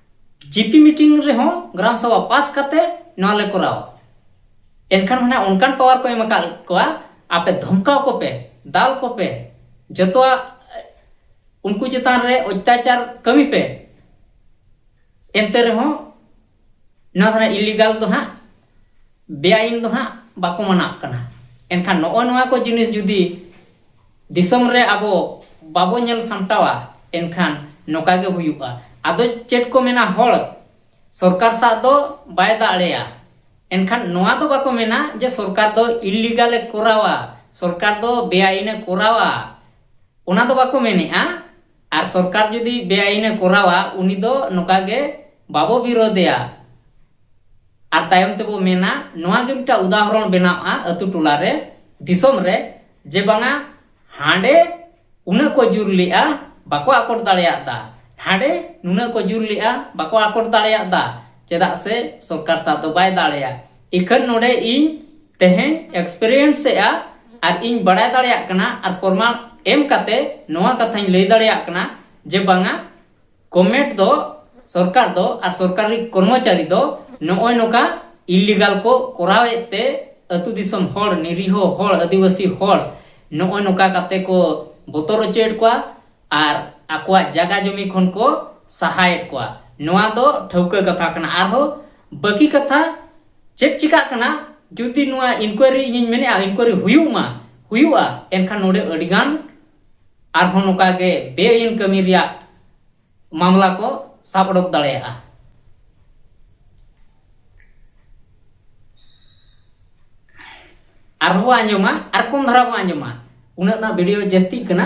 ᱡᱤᱯᱤ ᱢᱤᱴᱤᱝ ᱨᱮᱦᱚᱸ ᱜᱨᱟᱢ ᱥᱚᱵᱷᱟ ᱯᱟᱥ ᱠᱟᱛᱮ ᱱᱚᱣᱟ ᱞᱮ ᱠᱚᱨᱟᱣᱟ ᱮᱱᱠᱷᱟᱱ ᱢᱟᱱᱮ ᱚᱱᱠᱟᱱ ᱯᱟᱣᱟᱨ ᱠᱚ ᱮᱢ ᱟᱠᱟᱫ ᱠᱚᱣᱟ ᱟᱯᱮ ᱫᱷᱚᱢᱠᱟᱣ ᱠᱚᱯᱮ ᱫᱟᱞ ᱠᱚᱯᱮ ᱡᱚᱛᱚᱣᱟᱜ ᱩᱱᱠᱩ ᱪᱮᱛᱟᱱ ᱨᱮ ᱚᱛᱛᱟᱪᱟᱨ ᱠᱟᱹᱢᱤ ᱯᱮ ᱮᱱᱛᱮ ᱨᱮᱦᱚᱸ ᱱᱚᱣᱟ ᱫᱚ ᱤᱞᱤᱜᱟᱞ ᱫᱚ ᱦᱟᱸᱜ ᱵᱮᱟᱭᱤᱱ ᱫᱚ ᱦᱟᱸᱜ ᱵᱟᱠᱚ ᱢᱟᱱᱟᱜ ᱠᱟᱱᱟ ᱮᱱᱠᱷᱟᱱ ᱱᱚᱜᱼᱚ ᱱᱚᱣᱟ ᱠᱚ ᱡᱤᱱᱤᱥ ᱡᱩᱫᱤ ᱫᱤᱥᱚᱢ ᱨᱮ ᱟᱵᱚ ᱵᱟᱵᱚ ᱧᱮᱞ ᱥᱟᱢᱴᱟᱣᱟ ᱮᱱᱠᱷᱟᱱ ᱱᱚᱝᱠᱟ ᱜᱮ ᱦᱩᱭᱩᱜᱼᱟ ᱟᱫᱚ ᱪᱮᱫ ᱠᱚ ᱢᱮᱱᱟ ᱦᱚᱲ ᱥᱚᱨᱠᱟᱨ ᱥᱟᱜ ᱫᱚ ᱵᱟᱭ ᱫᱟᱲᱮᱭᱟ ᱮᱱᱠᱷᱟᱱ ᱱᱚᱣᱟ ᱫᱚ ᱵᱟᱠᱚ ᱢᱮᱱᱟ ᱡᱮ ᱥᱚᱨᱠᱟᱨ ᱫᱚ ᱤᱞᱤᱜᱟᱞ ᱮ ᱠᱚᱨᱟᱣᱟ ᱥᱚᱨᱠᱟᱨ ᱫᱚ ᱵᱮᱟᱭᱤᱱ ᱮ ᱠᱚᱨᱟᱣᱟ ᱚᱱᱟ ᱫᱚ ᱵᱟᱠᱚ ᱢᱮᱱᱮᱜᱼᱟ ᱟᱨ ᱥᱚᱨᱠᱟᱨ ᱡᱩᱫᱤ ᱵᱮᱟᱭᱤᱱᱮ ᱠᱚᱨᱟᱣᱟ ᱩᱱᱤ ᱫᱚ ᱱᱚᱝᱠᱟ ᱜᱮ ᱵᱟᱵᱚ ᱵᱤᱨᱳᱫᱮᱭᱟ ᱟᱨ ᱛᱟᱭᱚᱢ ᱛᱮᱵᱚ ᱢᱮᱱᱟ ᱱᱚᱣᱟ ᱜᱮ ᱢᱤᱫᱴᱟᱝ ᱩᱫᱟᱦᱚᱨᱚᱱ ᱵᱮᱱᱟᱣᱜᱼᱟ ᱟᱹᱛᱩ ᱴᱚᱞᱟ ᱨᱮ ᱫᱤᱥᱚᱢ ᱨᱮ ᱡᱮ ᱵᱟᱝᱟ ᱦᱟᱸᱰᱮ ᱩᱱᱟᱹᱜ ᱠᱚ ᱡᱩᱨ ᱞᱮᱜᱼᱟ ᱵᱟᱠᱚ ᱟᱠᱚᱴ ᱫᱟᱲᱮᱭᱟᱫᱟ ᱦᱟᱸᱰᱮ ᱱᱩᱱᱟᱹᱜ ᱠᱚ ᱡᱩᱨ ᱞᱮᱜᱼᱟ ᱵᱟᱠᱚ ᱟᱠᱚᱴ ᱫᱟᱲᱮᱭᱟᱫᱟ ᱪᱮᱫᱟᱜ ᱥᱮ ᱥᱚᱨᱠᱟᱨ ᱥᱟᱵ ᱫᱚ ᱵᱟᱭ ᱫᱟᱲᱮᱭᱟ ᱤᱠᱷᱟᱹᱱ ᱱᱚᱰᱮ ᱤᱧ ᱛᱮᱦᱮᱧ ᱮᱠᱥᱯᱮᱨᱤᱭᱮᱱᱥ ᱮᱜᱼᱟ ᱟᱨ ᱤᱧ ᱵᱟᱲᱟᱭ ᱫᱟᱲᱮᱭᱟᱜ ᱠᱟᱱᱟ ᱟᱨ ᱯᱨᱚᱢᱟण ᱮᱢ ᱠᱟᱛᱮ ᱱᱚᱣᱟ ᱠᱟᱛᱷᱟᱧ ᱞᱟᱹᱭ ᱫᱟᱲᱮᱭᱟᱜ ᱠᱟᱱᱟ ᱡᱮ ᱵᱟᱝᱟ ᱜᱚᱵᱷᱢᱮᱱᱴ ᱫᱚ ᱥᱚᱨᱠᱟᱨ ᱫᱚ ᱟᱨ ᱥᱚᱨᱠᱟᱨᱤ ᱠᱚᱨᱢᱚᱪᱟᱨᱤ ᱫᱚ ᱱᱚᱜᱼᱚᱭ ᱱᱚᱝᱠᱟ ᱤᱞᱤᱜᱟᱞ ᱠᱚ ᱠᱚᱨᱟᱣᱮᱫ ᱛᱮ ᱟᱹᱛᱩ ᱫᱤᱥᱚᱢ ᱦᱚᱲ ᱱᱤᱨᱤᱦᱚ ᱦᱚᱲ ᱟᱹᱫᱤᱵᱟᱹᱥᱤ ᱦᱚᱲ ᱱᱚᱜᱼᱚᱭ ᱱᱚᱝᱠᱟ ᱠᱟᱛᱮ ᱠᱚ ᱵᱚᱛᱚᱨ ᱦᱚᱪᱚᱭᱮᱫ ᱠᱚᱣᱟ ᱟᱨ ᱟᱠᱚᱣᱟᱜ ᱡᱟᱭᱜᱟ ᱡᱚᱢᱤ ᱠᱷᱚᱱ ᱠᱚ ᱥᱟᱦᱟᱭᱮᱫ ᱠᱚᱣᱟ ᱱᱚᱣᱟ ᱫᱚ ᱴᱷᱟᱹᱣᱠᱟᱹ ᱠᱟᱛᱷᱟ ᱠᱟᱱᱟ ᱟᱨᱦᱚᱸ ᱵᱟᱹᱠᱤ ᱠᱟᱛᱷᱟ ᱪᱮᱫ ᱪᱤᱠᱟᱜ ᱠᱟᱱᱟ ᱡᱩᱫᱤ ᱱᱚᱣᱟ ᱤᱱᱠᱩᱭᱟᱨᱤ ᱤᱧᱤᱧ ᱢᱮᱱᱮᱜᱼᱟ ᱤᱱᱠᱩᱭᱟᱨᱤ ᱦᱩᱭᱩᱜ ᱢᱟ ᱦᱩᱭᱩᱜᱼᱟ ᱮᱱᱠᱷᱟᱱ ᱱᱚᱰᱮ ᱟᱹᱰᱤ ᱜᱟᱱ ᱟᱨᱦᱚᱸ ᱱᱚᱝᱠᱟ ᱜᱮ ᱵᱮᱼᱟᱹᱭᱤᱱ ᱠᱟᱹᱢᱤ ᱨᱮᱭᱟᱜ ᱢᱟᱢᱞᱟ ᱠᱚ ᱥᱟᱵ ᱚᱰᱚᱠ ᱫᱟᱲᱮᱭᱟᱜᱼᱟ ᱟᱨᱦᱚᱸ ᱵᱚ ᱟᱸᱡᱚᱢᱟ ᱟᱨ ᱠᱚᱢ ᱫᱷᱟᱨᱟ ᱵᱚ ᱟᱸᱡᱚᱢᱟ ᱩᱱᱟᱹᱜ ᱱᱟᱜ ᱵᱷᱤᱰᱤᱭᱳ ᱡᱟᱹᱥᱛᱤᱜ ᱠᱟᱱᱟ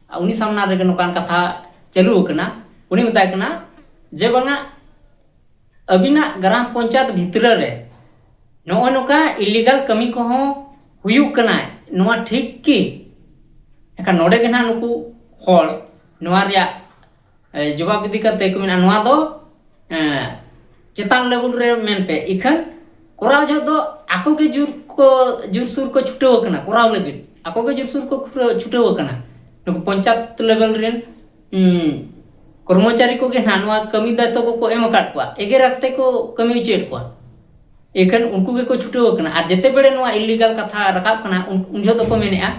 ᱩᱱᱤ ᱥᱟᱢᱱᱟ ᱨᱮᱜᱮ ᱱᱚᱝᱠᱟᱱ ᱠᱟᱛᱷᱟ ᱪᱟᱹᱞᱩ ᱟᱠᱟᱱᱟ ᱩᱱᱤ ᱢᱮᱛᱟᱭ ᱠᱟᱱᱟ ᱡᱮ ᱵᱟᱝᱟ ᱟᱹᱵᱤᱱᱟᱜ ᱜᱨᱟᱢ ᱯᱚᱧᱪᱟᱭᱮᱛ ᱵᱷᱤᱛᱨᱤ ᱨᱮ ᱱᱚᱜᱼᱚᱭ ᱱᱚᱝᱠᱟ ᱤᱞᱤᱜᱟᱞ ᱠᱟᱹᱢᱤ ᱠᱚᱦᱚᱸ ᱦᱩᱭᱩᱜ ᱠᱟᱱᱟ ᱱᱚᱣᱟ ᱴᱷᱤᱠ ᱠᱤ ᱮᱱᱠᱷᱟᱱ ᱱᱚᱰᱮ ᱜᱮ ᱱᱟᱦᱟᱜ ᱱᱩᱠᱩ ᱦᱚᱲ ᱱᱚᱣᱟ ᱨᱮᱭᱟᱜ ᱡᱚᱵᱟᱵ ᱤᱫᱤ ᱠᱟᱛᱮ ᱠᱚ ᱢᱮᱱᱟ ᱱᱚᱣᱟ ᱫᱚ ᱪᱮᱛᱟᱱ ᱞᱮᱵᱮᱞ ᱨᱮ ᱢᱮᱱ ᱯᱮ ᱤᱠᱷᱟᱹᱱ ᱠᱚᱨᱟᱣ ᱡᱚᱦᱚᱜ ᱫᱚ ᱟᱠᱚ ᱜᱮ ᱡᱩᱨ ᱠᱚ ᱡᱩᱨ ᱥᱩᱨ ᱠᱚ ᱪᱷᱩᱴᱟᱹᱣ ᱟᱠᱟᱱᱟ ᱠᱚᱨᱟᱣ ᱞᱟᱹᱜᱤᱫ ᱟᱠᱚ ᱜᱮ ᱡᱩᱨ ᱥᱩᱨ ᱠᱚ ᱪᱷᱩᱴᱟᱹᱣ ᱟᱠᱟᱱᱟ ᱱᱩᱠᱩ ᱯᱚᱧᱪᱟᱭᱮᱛ ᱞᱮᱵᱮᱞ ᱨᱮᱱ ᱠᱚᱨᱢᱚᱪᱟᱨᱤ ᱠᱚᱜᱮ ᱱᱟᱦᱟᱜ ᱱᱚᱣᱟ ᱠᱟᱹᱢᱤ ᱫᱟᱭᱤᱛᱛᱚ ᱠᱚᱠᱚ ᱮᱢ ᱟᱠᱟᱫ ᱠᱚᱣᱟ ᱮᱜᱮᱨ ᱠᱟᱛᱮ ᱠᱚ ᱠᱟᱹᱢᱤ ᱦᱚᱪᱚᱭᱮᱫ ᱠᱚᱣᱟ ᱮᱠᱷᱟᱱ ᱩᱱᱠᱩ ᱜᱮᱠᱚ ᱪᱷᱩᱴᱟᱹᱣ ᱟᱠᱟᱱᱟ ᱟᱨ ᱡᱮᱛᱮ ᱵᱮᱲᱮ ᱱᱚᱣᱟ ᱤᱞᱤᱜᱟᱞ ᱠᱟᱛᱷᱟ ᱨᱟᱠᱟᱵ ᱠᱟᱱᱟ ᱩᱱ ᱡᱚᱦᱚᱜ ᱫᱚᱠᱚ ᱢᱮᱱᱮᱜᱼᱟ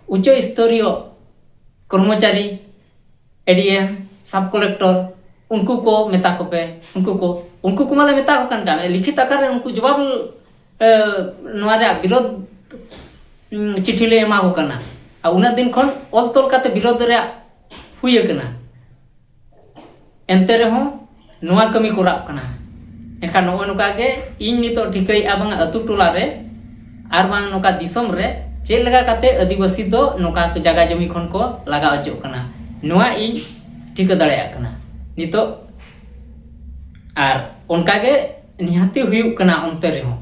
ᱩᱪᱪᱚ ᱥᱛᱚᱨᱤᱭᱚ ᱠᱚᱨᱢᱚᱪᱟᱨᱤ ᱮᱰᱤᱮᱢ ᱥᱟᱵ ᱠᱚᱞᱮᱠᱴᱚᱨ ᱩᱱᱠᱩ ᱠᱚ ᱢᱮᱛᱟ ᱠᱚᱯᱮ ᱩᱱᱠᱩ ᱠᱚ ᱩᱱᱠᱩ ᱠᱚ ᱢᱟᱞᱮ ᱢᱮᱛᱟ ᱠᱚ ᱠᱟᱱ ᱠᱟᱱ ᱞᱤᱠᱷᱤᱛ ᱟᱠᱟᱨ ᱨᱮ ᱩᱱᱠᱩ ᱡᱚᱵᱟᱵ ᱱᱚᱣᱟ ᱨᱮᱭᱟᱜ ᱵᱤᱨᱳᱫ ᱪᱤᱴᱷᱤ ᱞᱮ ᱮᱢᱟ ᱠᱚ ᱠᱟᱱᱟ ᱟᱨ ᱩᱱᱟᱹᱜ ᱫᱤᱱ ᱠᱷᱚᱱ ᱚᱞ ᱛᱚᱞ ᱠᱟᱛᱮ ᱵᱤᱨᱳᱫ ᱨᱮᱭᱟᱜ ᱦᱩᱭ ᱟᱠᱟᱱᱟ ᱮᱱᱛᱮ ᱨᱮᱦᱚᱸ ᱱᱚᱣᱟ ᱠᱟᱹᱢᱤ ᱠᱚᱨᱟᱜ ᱠᱟᱱᱟ ᱮᱱᱠᱷᱟᱱ ᱱᱚᱜᱼᱚ ᱱᱚᱝᱠᱟ ᱜᱮ ᱤᱧ ᱱᱤᱛᱚᱜ ᱴᱷᱤᱠᱟᱹᱭᱮᱫᱼᱟ ᱵᱟᱝ ᱟᱹᱛᱩ ᱴᱚᱞᱟ ᱨᱮ ᱟᱨ ᱵᱟᱝ ᱱᱚᱝᱠᱟ ᱫᱤᱥᱚᱢ ᱨᱮ ᱪᱮᱫ ᱞᱮᱠᱟ ᱠᱟᱛᱮ ᱟᱹᱫᱤᱵᱟᱹᱥᱤ ᱫᱚ ᱱᱚᱝᱠᱟ ᱡᱟᱭᱜᱟ ᱡᱚᱢᱤ ᱠᱷᱚᱱ ᱠᱚ ᱞᱟᱜᱟ ᱚᱪᱚᱜ ᱠᱟᱱᱟ ᱱᱚᱣᱟ ᱤᱧ ᱴᱷᱤᱠᱟᱹ ᱫᱟᱲᱮᱭᱟᱜ ᱠᱟᱱᱟ ᱱᱤᱛᱚᱜ ᱟᱨ ᱚᱱᱠᱟ ᱜᱮ ᱱᱤᱦᱟᱹᱛᱤ ᱦᱩᱭᱩᱜ ᱠᱟᱱᱟ ᱚᱱᱛᱮ ᱨᱮᱦᱚᱸ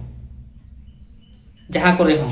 ᱡᱟᱦᱟᱸ ᱠᱚᱨᱮ ᱦᱚᱸ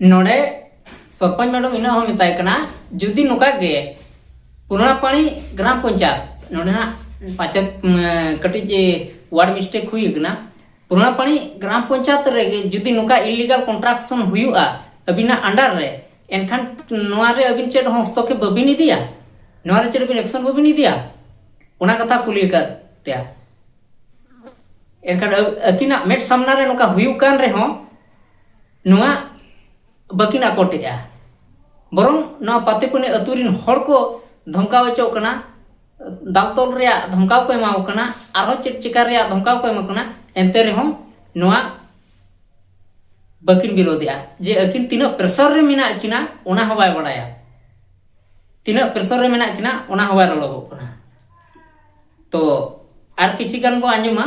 ᱱᱚᱰᱮ ᱥᱚᱨᱯᱚᱧ ᱢᱮᱰᱚᱢ ᱤᱱᱟᱹ ᱦᱚᱸ ᱢᱮᱛᱟᱭ ᱠᱟᱱᱟ ᱡᱩᱫᱤ ᱱᱚᱝᱠᱟ ᱜᱮ ᱯᱩᱨᱟᱯᱟᱲᱤ ᱜᱨᱟᱢ ᱯᱚᱧᱪᱟᱭᱮᱛ ᱱᱚᱰᱮ ᱱᱟᱜ ᱯᱟᱪᱮᱫ ᱠᱟᱹᱴᱤᱡ ᱣᱟᱨᱰ ᱢᱤᱥᱴᱮᱠ ᱦᱩᱭ ᱠᱟᱱᱟ ᱯᱩᱨᱟᱯᱟᱲᱤ ᱜᱨᱟᱢ ᱯᱚᱧᱪᱟᱭᱮᱛ ᱨᱮᱜᱮ ᱡᱩᱫᱤ ᱱᱚᱝᱠᱟ ᱤᱞᱤᱜᱟᱞ ᱠᱚᱱᱴᱨᱟᱠᱥᱚᱱ ᱦᱩᱭᱩᱜᱼᱟ ᱟᱹᱵᱤᱱᱟᱜ ᱟᱱᱰᱟᱨ ᱨᱮ ᱮᱱᱠᱷᱟᱱ ᱱᱚᱣᱟ ᱨᱮ ᱟᱹᱵᱤᱱ ᱪᱮᱫ ᱦᱚᱸ ᱦᱚᱥᱛᱚᱠᱮᱯ ᱵᱟᱹᱵᱤᱱ ᱤᱫᱤᱭᱟ ᱱᱚᱣᱟ ᱨᱮ ᱪᱮᱫ ᱵᱤᱱ ᱮᱠᱥᱚᱱ ᱵᱟᱹᱵᱤᱱ ᱤᱫᱤᱭᱟ ᱚᱱᱟ ᱠᱟᱛᱷᱟ ᱠᱩᱞᱤ ᱟᱠᱟᱫ ᱯᱮᱭᱟ ᱮᱱᱠᱷᱟᱱ ᱟᱹᱠᱤᱱᱟᱜ ᱢᱮᱫ ᱥᱟᱢᱱᱟ ᱨᱮ ᱱᱚᱝᱠᱟ ᱦᱩᱭᱩᱜ ᱠᱟᱱ ᱨᱮᱦᱚᱸ ᱱᱚᱣᱟ ᱵᱟᱹᱠᱤᱱ ᱟᱠᱚᱴᱮᱜᱼᱟ ᱵᱚᱨᱚᱝ ᱱᱚᱣᱟ ᱯᱟᱛᱮᱯᱟᱹᱱᱤ ᱟᱹᱛᱩ ᱨᱤᱱ ᱦᱚᱲ ᱠᱚ ᱫᱷᱚᱢᱠᱟᱣ ᱦᱚᱪᱚᱜ ᱠᱟᱱᱟ ᱫᱟᱞ ᱛᱚᱞ ᱨᱮᱭᱟᱜ ᱫᱷᱚᱢᱠᱟᱣ ᱠᱚ ᱮᱢᱟᱣ ᱠᱟᱱᱟ ᱟᱨᱦᱚᱸ ᱪᱮᱫ ᱪᱮᱠᱟ ᱨᱮᱭᱟᱜ ᱫᱷᱚᱢᱠᱟᱣ ᱠᱚ ᱮᱢᱟᱣ ᱠᱟᱱᱟ ᱮᱱᱛᱮ ᱨᱮᱦᱚᱸ ᱱᱚᱣᱟ ᱵᱟᱹᱠᱤᱱ ᱵᱤᱨᱳᱫᱮᱜᱼᱟ ᱡᱮ ᱟᱹᱠᱤᱱ ᱛᱤᱱᱟᱹᱜ ᱯᱨᱮᱥᱟᱨ ᱨᱮ ᱢᱮᱱᱟᱜ ᱠᱤᱱᱟ ᱚᱱᱟ ᱦᱚᱸ ᱵᱟᱭ ᱵᱟᱲᱟᱭᱟ ᱛᱤᱱᱟᱹᱜ ᱯᱨᱮᱥᱟᱨ ᱨᱮ ᱢᱮᱱᱟᱜ ᱠᱤᱱᱟ ᱚᱱᱟ ᱦᱚᱸ ᱵᱟᱭ ᱨᱚᱲᱚᱜᱚᱜ ᱠᱟᱱᱟ ᱛᱚ ᱟᱨ ᱠᱤᱪᱷᱤ ᱜᱟᱱ ᱵᱚ ᱟᱸᱡᱚᱢᱟ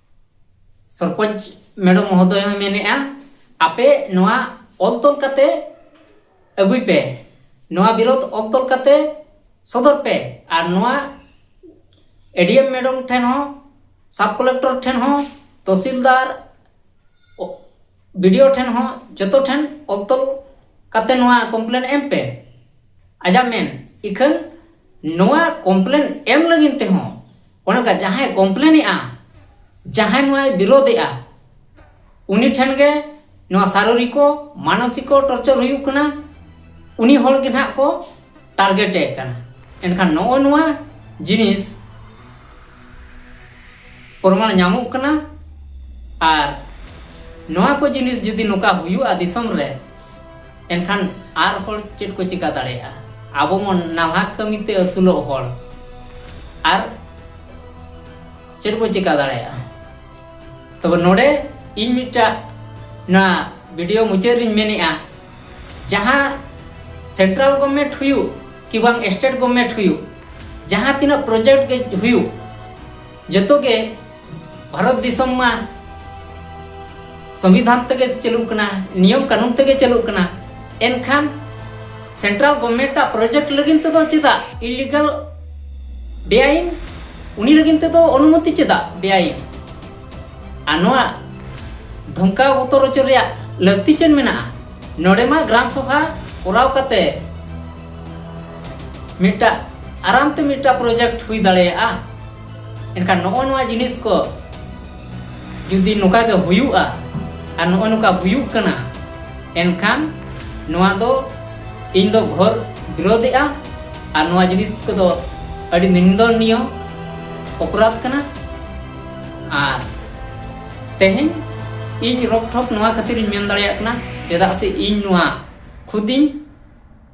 ᱥᱚᱨᱯᱚᱧᱪ ᱢᱮᱰᱚᱢ ᱢᱚᱦᱚᱫᱚᱭ ᱦᱚᱸ ᱢᱮᱱᱮᱜᱼᱟ ᱟᱯᱮ ᱱᱚᱣᱟ ᱚᱞ ᱛᱚᱞ ᱠᱟᱛᱮ ᱟᱹᱜᱩᱭ ᱯᱮ ᱱᱚᱣᱟ ᱵᱤᱨᱳᱫᱷ ᱚᱞ ᱛᱚᱞ ᱠᱟᱛᱮ ᱥᱚᱫᱚᱨ ᱯᱮ ᱟᱨ ᱱᱚᱣᱟ ᱮᱰᱤᱮᱢ ᱢᱮᱰᱚᱢ ᱴᱷᱮᱱ ᱦᱚᱸ ᱥᱟᱵ ᱠᱚᱞᱮᱠᱴᱚᱨ ᱴᱷᱮᱱ ᱦᱚᱸ ᱛᱚᱦᱥᱤᱞᱫᱟᱨ ᱵᱤᱰᱤᱳ ᱴᱷᱮᱱ ᱦᱚᱸ ᱡᱚᱛᱚ ᱴᱷᱮᱱ ᱚᱞ ᱛᱚᱞ ᱠᱟᱛᱮ ᱱᱚᱣᱟ ᱠᱚᱢᱯᱞᱮᱱ ᱮᱢ ᱯᱮ ᱟᱡᱟᱜ ᱢᱮᱱ ᱤᱠᱷᱟᱹᱱ ᱱᱚᱣᱟ ᱠᱚᱢᱯᱞᱮᱱ ᱮᱢ ᱞᱟᱹᱜᱤᱫ ᱛᱮᱦᱚᱸ ᱚᱱᱮ ᱚᱱᱠᱟ ᱡᱟᱦᱟᱸᱭ ᱠᱚᱢᱯᱞᱮᱱᱮᱜᱼᱟ ᱡᱟᱦᱟᱸᱭ ᱱᱚᱣᱟᱭ ᱵᱤᱨᱳᱫᱮᱜᱼᱟ ᱩᱱᱤ ᱴᱷᱮᱱ ᱜᱮ ᱱᱚᱣᱟ ᱥᱟᱨᱤᱨᱤᱠᱚ ᱢᱟᱱᱚᱥᱤᱠᱚ ᱴᱚᱨᱪᱚᱨ ᱦᱩᱭᱩᱜ ᱠᱟᱱᱟ ᱩᱱᱤ ᱦᱚᱲ ᱜᱮ ᱱᱟᱦᱟᱜ ᱠᱚ ᱴᱟᱨᱜᱮᱴᱮ ᱠᱟᱱᱟ ᱮᱱᱠᱷᱟᱱ ᱱᱚᱜᱼᱚ ᱱᱚᱣᱟ ᱡᱤᱱᱤᱥ ᱯᱨᱚᱢᱟᱬ ᱧᱟᱢᱚᱜ ᱠᱟᱱᱟ ᱟᱨ ᱱᱚᱣᱟ ᱠᱚ ᱡᱤᱱᱤᱥ ᱡᱩᱫᱤ ᱱᱚᱝᱠᱟ ᱦᱩᱭᱩᱜᱼᱟ ᱫᱤᱥᱚᱢ ᱨᱮ ᱮᱱᱠᱷᱟᱱ ᱟᱨ ᱦᱚᱲ ᱪᱮᱫ ᱠᱚ ᱪᱤᱠᱟ ᱫᱟᱲᱮᱭᱟᱜᱼᱟ ᱟᱵᱚ ᱢᱚᱱ ᱱᱟᱞᱦᱟ ᱠᱟᱹᱢᱤ ᱛᱮ ᱟᱹᱥᱩᱞᱚᱜ ᱦᱚᱲ ᱟᱨ ᱪᱮᱫ ᱵᱚ ᱪᱤᱠᱟ ᱫᱟᱲᱮᱭᱟᱜᱼᱟ ᱛᱚᱵᱮ ᱱᱚᱰᱮ ᱤᱧ ᱢᱤᱫᱴᱟᱜ ᱱᱚᱣᱟ ᱵᱷᱤᱰᱤᱭᱳ ᱢᱩᱪᱟᱹᱫ ᱨᱤᱧ ᱢᱮᱱᱮᱜᱼᱟ ᱡᱟᱦᱟᱸ ᱥᱮᱱᱴᱨᱟᱞ ᱜᱚᱵᱷᱢᱮᱱᱴ ᱦᱩᱭᱩᱜ ᱠᱤ ᱵᱟᱝ ᱥᱴᱮᱴ ᱜᱚᱵᱷᱢᱮᱱᱴ ᱦᱩᱭᱩᱜ ᱡᱟᱦᱟᱸ ᱛᱤᱱᱟᱹᱜ ᱯᱨᱚᱡᱮᱠᱴ ᱜᱮ ᱦᱩᱭᱩᱜ ᱡᱚᱛᱚ ᱜᱮ ᱵᱷᱟᱨᱚᱛ ᱫᱤᱥᱚᱢ ᱢᱟ ᱥᱚᱝᱵᱤᱫᱷᱟᱱ ᱛᱮᱜᱮ ᱪᱟᱹᱞᱩᱜ ᱠᱟᱱᱟ ᱱᱤᱭᱚᱢ ᱠᱟᱹᱱᱩᱱ ᱛᱮᱜᱮ ᱪᱟᱹᱞᱩᱜ ᱠᱟᱱᱟ ᱮᱱᱠᱷᱟᱱ ᱥᱮᱱᱴᱨᱟᱞ ᱜᱚᱵᱷᱢᱮᱱᱴ ᱟᱜ ᱯᱨᱚᱡᱮᱠᱴ ᱞᱟᱹᱜᱤᱫ ᱛᱮᱫᱚ ᱪᱮᱫᱟᱜ ᱤᱞᱤᱜᱟᱞ ᱵᱮᱟᱭᱤᱱ ᱩᱱᱤ ᱞᱟᱹᱜᱤᱫ ᱛᱮᱫᱚ ᱚᱱᱩᱢᱚᱛᱤ ᱪᱮᱫᱟᱜ ᱵᱮᱟᱭᱤᱱ ᱟᱨ ᱱᱚᱣᱟ ᱫᱷᱚᱢᱠᱟᱣ ᱵᱚᱛᱚᱨ ᱦᱚᱪᱚ ᱨᱮᱭᱟᱜ ᱞᱟᱹᱠᱛᱤ ᱪᱮᱫ ᱢᱮᱱᱟᱜᱼᱟ ᱱᱚᱰᱮ ᱢᱟ ᱜᱨᱟᱢ ᱥᱚᱵᱷᱟ ᱠᱚᱨᱟᱣ ᱠᱟᱛᱮ ᱢᱤᱫᱴᱟᱜ ᱟᱨᱟᱢ ᱛᱮ ᱢᱤᱫᱴᱟᱜ ᱯᱨᱚᱡᱮᱠᱴ ᱦᱩᱭ ᱫᱟᱲᱮᱭᱟᱜᱼᱟ ᱮᱱᱠᱷᱟᱱ ᱱᱚᱜᱼᱚ ᱱᱚᱣᱟ ᱡᱤᱱᱤᱥ ᱠᱚ ᱡᱩᱫᱤ ᱱᱚᱝᱠᱟ ᱜᱮ ᱦᱩᱭᱩᱜᱼᱟ ᱟᱨ ᱱᱚᱜᱼᱚ ᱱᱚᱝᱠᱟ ᱦᱩᱭᱩᱜ ᱠᱟᱱᱟ ᱮᱱᱠᱷᱟᱱ ᱱᱚᱣᱟ ᱫᱚ ᱤᱧ ᱫᱚ ᱜᱷᱚᱨ ᱵᱤᱨᱳᱫᱮᱜᱼᱟ ᱟᱨ ᱱᱚᱣᱟ ᱡᱤᱱᱤᱥ ᱠᱚᱫᱚ ᱟᱹᱰᱤ ᱱᱤᱱᱫᱚᱱᱤᱭᱚ ᱚᱯᱨᱟᱫᱷ ᱠᱟᱱᱟ ᱟᱨ ᱛᱮᱦᱮᱧ ᱤᱧ ᱨᱚᱠᱴᱷᱚᱠ ᱱᱚᱣᱟ ᱠᱷᱟᱹᱛᱤᱨᱤᱧ ᱢᱮᱱ ᱫᱟᱲᱮᱭᱟᱜ ᱠᱟᱱᱟ ᱪᱮᱫᱟᱜ ᱥᱮ ᱤᱧ ᱱᱚᱣᱟ ᱠᱷᱩᱫᱤᱧ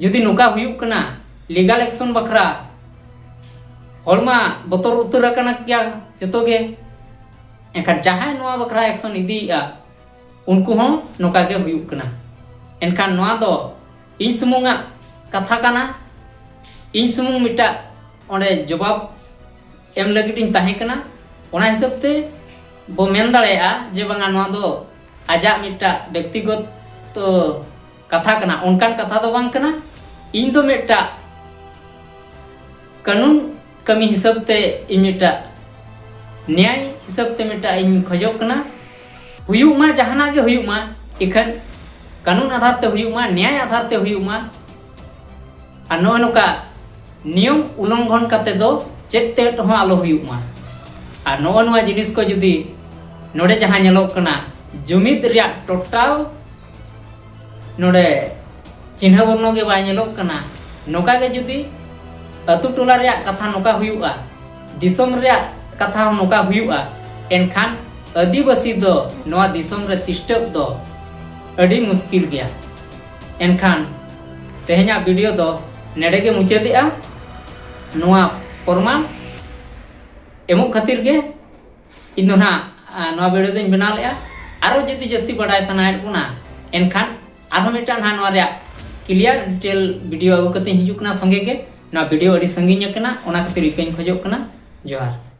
ᱡᱩᱫᱤ ᱱᱚᱝᱠᱟ ᱦᱩᱭᱩᱜ ᱠᱟᱱᱟ ᱞᱤᱜᱟᱞ ᱮᱠᱥᱚᱱ ᱵᱟᱠᱷᱨᱟ ᱦᱚᱲ ᱢᱟ ᱵᱚᱛᱚᱨ ᱩᱛᱟᱹᱨ ᱟᱠᱟᱱᱟ ᱜᱮᱭᱟ ᱡᱚᱛᱚ ᱜᱮ ᱮᱱᱠᱷᱟᱱ ᱡᱟᱦᱟᱸᱭ ᱱᱚᱣᱟ ᱵᱟᱠᱷᱨᱟ ᱮᱠᱥᱚᱱ ᱤᱫᱤᱭᱮᱜᱼᱟ ᱩᱱᱠᱩ ᱦᱚᱸ ᱱᱚᱝᱠᱟ ᱜᱮ ᱦᱩᱭᱩᱜ ᱠᱟᱱᱟ ᱮᱱᱠᱷᱟᱱ ᱱᱚᱣᱟ ᱫᱚ ᱤᱧ ᱥᱩᱢᱩᱝᱟᱜ ᱠᱟᱛᱷᱟ ᱠᱟᱱᱟ ᱤᱧ ᱥᱩᱢᱩᱝ ᱢᱤᱫᱴᱟᱜ ᱚᱸᱰᱮ ᱡᱚᱵᱟᱵ ᱮᱢ ᱞᱟᱹᱜᱤᱫ ᱤᱧ ᱛᱟᱦᱮᱸ ᱠᱟᱱᱟ ᱚᱱᱟ ᱦᱤᱥᱟᱹᱵ ᱛᱮ ᱵᱚ ᱢᱮᱱ ᱫᱟᱲᱮᱭᱟᱜᱼᱟ ᱡᱮ ᱵᱟᱝᱟ ᱱᱚᱣᱟ ᱫᱚ ᱟᱡᱟᱜ ᱢᱤᱫᱴᱟᱜ ᱵᱮᱠᱛᱤᱜᱚᱛ ᱠᱟᱛᱷᱟ ᱠᱟᱱᱟ ᱚᱱᱠᱟᱱ ᱠᱟᱛᱷᱟ ᱫᱚ ᱵᱟᱝ ᱠᱟᱱᱟ ᱤᱧ ᱫᱚ ᱢᱤᱫᱴᱟᱜ ᱠᱟᱹᱱᱩᱱ ᱠᱟᱹᱢᱤ ᱦᱤᱥᱟᱹᱵ ᱛᱮ ᱤᱧ ᱢᱤᱫᱴᱟᱜ ᱱᱮᱭᱟᱭ ᱦᱤᱥᱟᱹᱵ ᱛᱮ ᱢᱤᱫᱴᱟᱜ ᱤᱧ ᱠᱷᱚᱡᱚᱜ ᱠᱟᱱᱟ ᱦᱩᱭᱩᱜ ᱢᱟ ᱡᱟᱦᱟᱱᱟᱜ ᱜᱮ ᱦᱩᱭᱩᱜ ᱢᱟ ᱤᱠᱷᱟᱹᱱ ᱠᱟᱹᱱᱩᱱ ᱟᱫᱷᱟᱨ ᱛᱮ ᱦᱩᱭᱩᱜ ᱢᱟ ᱱᱮᱭᱟᱭ ᱟᱫᱷᱟᱨ ᱛᱮ ᱦᱩᱭᱩᱜ ᱢᱟ ᱟᱨ ᱱᱚᱜᱼᱚᱭ ᱱᱚᱝᱠᱟ ᱱᱤᱭᱚᱢ ᱩᱞᱚᱝᱜᱷᱚᱱ ᱠᱟᱛᱮ ᱫᱚ ᱪᱮᱫ ᱛᱮ ᱦᱚᱸ ᱟᱞᱚ ᱦᱩᱭᱩᱜ ᱢᱟ ᱟᱨ ᱱᱚᱜᱼᱚᱭ ᱱᱚᱣᱟ ᱡᱤᱱᱤᱥ ᱠᱚ ᱡᱩᱫᱤ ᱱᱚᱰᱮ ᱡᱟᱦᱟᱸ ᱧᱮᱞᱚᱜ ᱠᱟᱱᱟ ᱡᱩᱢᱤᱫ ᱨᱮᱭᱟᱜ ᱴᱳᱴᱟᱞ ᱱᱚᱰᱮ ᱪᱤᱱᱦᱟᱹ ᱵᱚᱨᱱᱚ ᱜᱮ ᱵᱟᱭ ᱧᱮᱞᱚᱜ ᱠᱟᱱᱟ ᱱᱚᱝᱠᱟ ᱜᱮ ᱡᱩᱫᱤ ᱟᱹᱛᱩ ᱴᱚᱞᱟ ᱨᱮᱭᱟᱜ ᱠᱟᱛᱷᱟ ᱱᱚᱝᱠᱟ ᱦᱩᱭᱩᱜᱼᱟ ᱫᱤᱥᱚᱢ ᱨᱮᱭᱟᱜ ᱠᱟᱛᱷᱟ ᱦᱚᱸ ᱱᱚᱝᱠᱟ ᱦᱩᱭᱩᱜᱼᱟ ᱮᱱᱠᱷᱟᱱ ᱟᱹᱫᱤᱵᱟᱹᱥᱤ ᱫᱚ ᱱᱚᱣᱟ ᱫᱤᱥᱚᱢ ᱨᱮ ᱛᱤᱥᱴᱟᱹᱵ ᱫᱚ ᱟᱹᱰᱤ ᱢᱩᱥᱠᱤᱞ ᱜᱮᱭᱟ ᱮᱱᱠᱷᱟᱱ ᱛᱮᱦᱮᱧᱟᱜ ᱵᱷᱤᱰᱤᱭᱳ ᱫᱚ ᱱᱮᱰᱮ ᱜᱮ ᱢᱩᱪᱟᱹᱫᱮᱜᱼᱟ ᱱᱚᱣᱟ ᱯᱨᱚᱢᱟᱱ ᱮᱢᱚᱜ ᱠᱷᱟᱹᱛᱤᱨ ᱜᱮ ᱤᱧ ᱫᱚ ᱱᱟᱜ ᱱᱚᱣᱟ ᱵᱷᱤᱰᱤᱭᱳ ᱫᱚᱧ ᱵᱮᱱᱟᱣ ᱞᱮᱜᱼᱟ ᱟᱨᱚ ᱡᱩᱫᱤ ᱡᱟᱹᱥᱛᱤ ᱵᱟᱰᱟᱭ ᱥᱟᱱᱟᱭᱮᱫ ᱵᱚᱱᱟ ᱮᱱᱠᱷᱟᱱ ᱟᱨᱦᱚᱸ ᱢᱤᱫᱴᱟᱝ ᱱᱟᱜ ᱱᱚᱣᱟ ᱨᱮᱭᱟᱜ ᱠᱞᱤᱭᱟᱨ ᱰᱤᱴᱮᱞ ᱵᱷᱤᱰᱤᱭᱳ ᱟᱹᱜᱩ ᱠᱟᱛᱮ ᱦᱤᱡᱩᱜ ᱠᱟᱱᱟ ᱥᱚᱸᱜᱮ ᱜᱮ ᱱᱚᱣᱟ ᱵᱷᱤᱰᱤᱭᱳ ᱟᱹᱰᱤ ᱥᱟᱺᱜᱤᱧ ᱟᱠᱟᱱᱟ ᱚᱱᱟ ᱠᱷᱟᱹᱛᱤᱨ ᱤᱠᱟᱹᱧ ᱠᱷᱚᱡᱚᱜ ᱠᱟᱱᱟ ᱡᱚᱦᱟᱨ